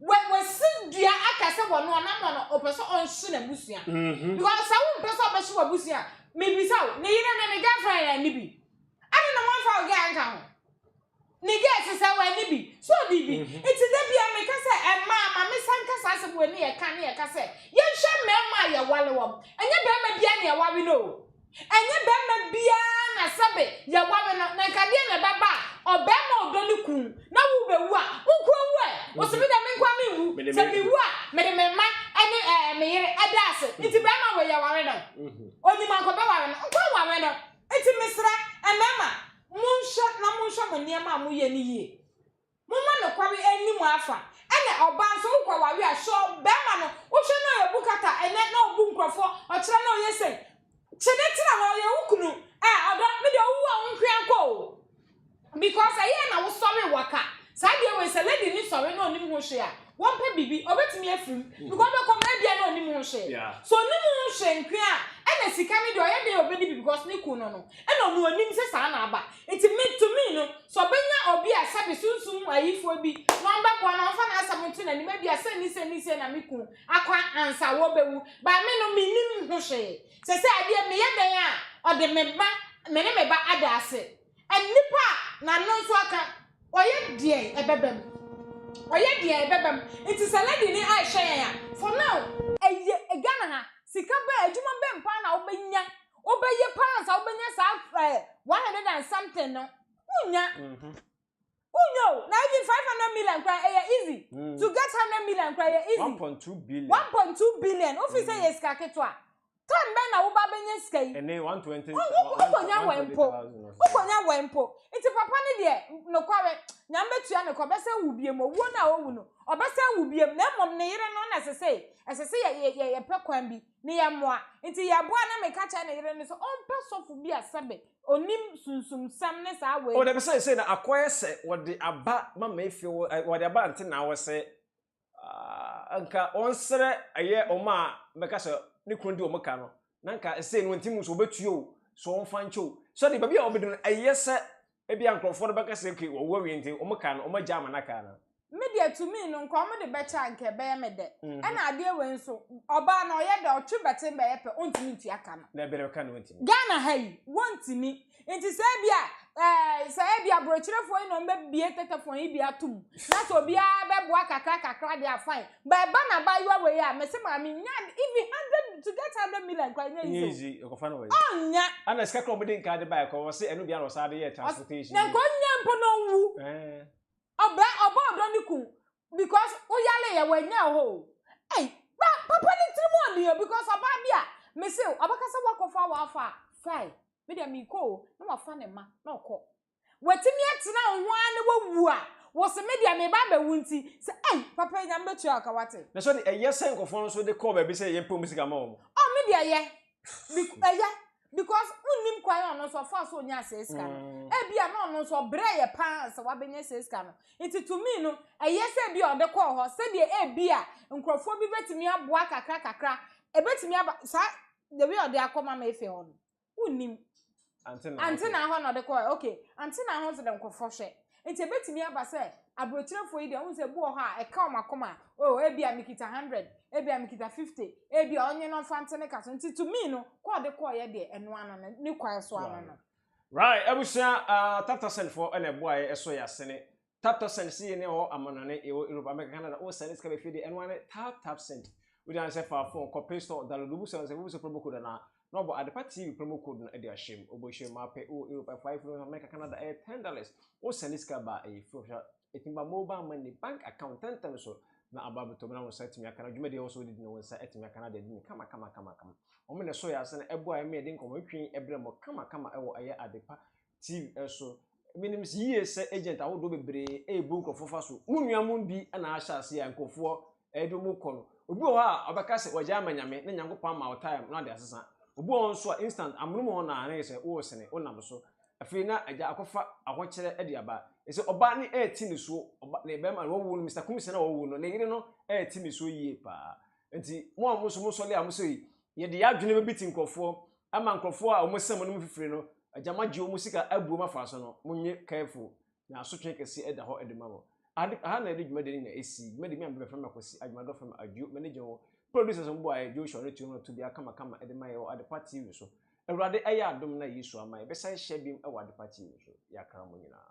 Wɔ wɔ si dua aka sɛ wɔ no ɔnamɔ no ɔpɛ sɛ ɔnhye n'abusua mm-hmm. because sɛ wo mpɛ sɛ ɔbɛhye w'abusua mebisa wo ne yere ne ne girlfriend na ne bi ɛne na wɔmfa wo girl nka ho ne girl sisa wɔ ne bi so ɔde bi mm-hmm. nti da bia meka sɛ ɛmaa ma mesa nka saa sɛ wɔ ne yɛka ne yɛka sɛ yɛnhwɛ mmarima a yɛwale wɔm ɛnyɛ barima bia ne ɛwawe no o Ɛnyɛ barima biara na sɛbe yɛware no na nka deɛ na ɛbɛba a ɔbarima a ɔdɔ ne kunu na wo bɛwu a wo nko awu ɛ ɔsɛ me deɛ me nko a menwu sɛ mewu a mede me mma ne ɛɛ me yere ɛda ase nti barima wei yɛware no ɔnim anka ɔbɛware no nko aware no nti mesrɛ mmarima monhwɛ na monhwɛ mo nneɛma a moyɛ no yie Momma nokware nni mo afa. Ɛna ɔbaa nso wo kɔ ware a sure bɛɛma no wo hwɛ na ɔyɛ obu kata ɛnɛ na ɔbu nkurɔfoɔ ɔkyerɛ na ɔyɛ sei kyene tena hɔ ɔyɛ wo kunu ɛɛ ɔdɔ me deɛ ɔwu a wo nkoaa nkɔ oo because ɛyɛɛ na wo sɔre waka saa deɛ wei sɛ lady no sɔre na ɔnim ho hwee a Wɔmpɛ biribi, ɔbɛtumi afiri mu, because ɔbɛkɔ mu, ebia na ɔnim ho hwee. Yeah. So ɔnim ho hwee nko a, ɛna sika no deɛ ɔyɛ dɛn a ɔbɛdi bi because ne kun no no, ɛna ɔno ɔnim sɛ saa na aba. Nti me, to me no, sɛ ɔbɛnya obi a sɛbe sunsum mu ayifoɔ bi na ɔmbɛboa no, ɔmfa n'asɛm nto n'anim, ebia sei ne sei ne sei na me kun akɔ ansa wɔbɛwu. But me no, mennim ho hwee. Sɛsɛ adeɛ, meyɛ dɛn a ɔde me ba, me ne me ba ada ase? Nnipa a n'ano nso aka. Ɔyɛ deɛ ɛbɛba mu. Ɔyɛ deɛ ɛbɛba mu. Nti sɛ lady ni a ɛhyɛ yɛn a, for now, ɛyɛ Ghana ha, sika bɛn, adwuma bɛn paa na wobɛnya, wobɛyɛ paa ansa wobɛnya saa ɛɛ one hundred and something no? Wonnya. Wo nyɛ o, na even five hundred million kura ɛyɛ easy. Mm. To get hundred million kura ɛyɛ easy. One point two billion. One point two billion. Wofi mm. sɛ yɛ sika ketewa. Time bɛn na wo ba bɛnya sika yi? Ɛnɛ one twenty. Wokɔnya wɔ mpo. Wokɔnya wɔ mpo. Nti papa ne deɛ nokware nyame bɛtua ne kɔ bɛsɛ wo biem owuo no a owu no ɔbɛsɛ wo biem na mmom ne yere no na ɛsɛ sɛ ɛsɛ sɛ yɛ yɛ yɛpɛ kwan bi ne yɛ mmoa nti yɛboa na meka kyerɛ ne yere no sɛ ɔmpɛ sɔfo bi a sɛbe Onim sunsumsɛm ne saa wei. O dabi seesei na akɔyɛ sɛ wɔde aba mama efi wo ɛ wɔde aba nte na wɔse ah nka wɔnsrɛ ɛyɛ wɔn a bɛka sɛ ne kunu di wɔn ka no na nka ɛsei no wɔntim nso wɔbɛtua o so wɔmfa nkyɛ o so de baabi a wɔbɛdu no ɛyɛ sɛ ebia nkorɔfoɔ no bɛka sɛ okay wɔwu awie nti wɔn ka no wɔn agya ama no aka anaa. Me deɛ tumi no nka ɔmo de bɛkyɛ a nka ɛbɛyɛ me dɛ. Ɛna adeɛ wei nso, ɔbaa no ɔyɛ dɛ, ɔtwe bɛten bɛyɛ pɛ, ɔntumi ntua ka no. Na ɛbɛrɛ ka no ɔntumi. Ghana ha yi, wɔntumi. Nti sɛ ebia, ɛɛ, sɛ ebia aborɔkyerɛfoɔ yi na wɔbɛbue tɛtɛfɔn yi bi ato mu, na sɛ obiara bɛboa kakra kakra deɛ a, fine. But ɛba no abaayewa wei a, mese maame, nnya adeɛ, even hundred, to get hundred million koraa, ɛnyɛ easy o. Ɛnyɛ easy, ɛkɔfa no wɔ he? Ɔnnya. Ɛna sika koraa a wɔde nkaa de baeɛ koraa, wɔse ɛno deɛ ara na wɔsan de yɛɛ transportation. Na nka ɔnnya mpo na ɔnwu. Ɛɛ. Ɔbra ɔbɔ ɔdɔ ne kun because wo yare yɛ wanya hɔ o. Ei ba papa ne tiri mu ɔden o because ɔbaa bi a me se ɔbɛka sɛ wakɔ fa wafa a fae me deɛ me kɔ o na wafa ne ma na ɔkɔ. Watumi atena wo ho ara na wawu a wo se me deɛ me ba abɛwu nti sɛ ei papa nyame bɛtua wo ka wate. Na sɛ ɔde ɛyɛ sɛ nkurɔfoɔ no nso de kɔɔ baabi sɛ yɛmpɛ wɔn sika ma wɔn. Oh me deɛ ɛyɛ. Ɛyɛ. because wonnim kwan a ɔno nso ɔfaa so onyaa saa sika no mm. ebi a na ɔno nso ɔbrɛ yɛ paa sɛ wabɛnya saa sika no nti to me no ɛyɛ sɛ ebi a ɔde kɔɔ hɔ sɛdeɛ ebi a nkurɔfoɔ bi bɛtumi aboa kakra kakra ebɛtumi aba saa the way ɔde akɔ mama efe hɔ no wonnim antena hɔ na ɔde kɔɔ okay antena hɔ nso de nkurɔfoɔ hwɛ Enti ebetumi aba sɛ aburokyerɛfo yi deɛ, wohu sɛ ebi wɔ hɔ a, ɛka wɔn akoma. Oh, ebia mikita hundred, ebia mikita fifty, ebia ɔnye no mfa nte ne ka so. Nti to me no, kɔ a ɔde kɔeɛ deɛ, ɛno ano no, ne kwan so ano no. Right, abusua, ah, Taptasend foɔ na ɛboa yɛ ɛsɔ yɛ asene. Taptasend, se yɛn ɛwɔ amanɔne, yɛwɔ Europe, America, Canada, wo sɛne sika bɛ fie deɛ, ɛno ara ne Tap Tapsend. Wogyina ne sɛ fa phone kɔ Play Store, download, wobisa wɔn sɛ, wobisa promo code anaa? Na ɔbɔ Adepa TV promo code no de ahyɛ mu. Ɔbɔ hyɛ mu a pɛ wɔ Europe ɛfa efiri hɔ America Canada ɛyɛ ten dollars. Wo sɛnde sika ba a ɛyɛ free official ɛtumi ba mobile money, bank account ntɛntɛm so na aba abɛtɔ mu na wo nsa atumi aka na dwumadi a ɛwɔ so wode di no wo nsa atumi aka na ade adi no kama kama kama kama. Wɔn na ɛso yɛ asɛn ɛboa ɛma yɛde nkɔmɔ twetwe ɛbrɛ mo kama kama ɛwɔ ɛyɛ Adepa TV so. Menim yie sɛ agent ahodoɔ bebree ɛrebu nkurɔfoɔ fa so. Mo nua mo bi na ahyɛ aseɛ a nkurɔfoɔ ɛde wɔn kɔ no. Obi wɔ hɔ a ɔbɛka sɛ wagya ama Nyame na Nyankopɔn ama wo time na wade asesa. Obi wɔ hɔ nso a instant amonom wɔ hɔ na na yɛ sɛ woresene, wonam so. Afei na agya akɔfa ahokyerɛ de aba. Ɛsɛ ɔbaa no ɛreti ne soɔ, ɔba ne bɛrima no wɔwo no, Mister Kumsah na wɔwo no, ne yere no ɛreti ne soɔ yie paa. Nti mo a mo nso mosɔle a mosɛ yɛde yɛn adwene bɛbiti nkurɔfoɔ, ama nkurɔfoɔ a wɔn sɛm no mu fifire no agya moagye wɔn sika abu wɔn afa so no, monyɛ careful na asotwee kɛseɛ ɛda hɔ ɛde ma mo. Ahad aha na yɛde dwumadie no nyinaa ɛsii, dwumadie me a mebɛ fama Kwasi Adwomadɔ fama Adwo me ne gye wo producers mo boaeɛ Joshua ne Tuoma to bia kama kama ɛde ma yɛ wɔ Adepa TV so Awurade ayɛ adom na Yesu ama yɛbɛ san hyɛ biom ɛwɔ Adepa TV so yɛ akra mo nyinaa.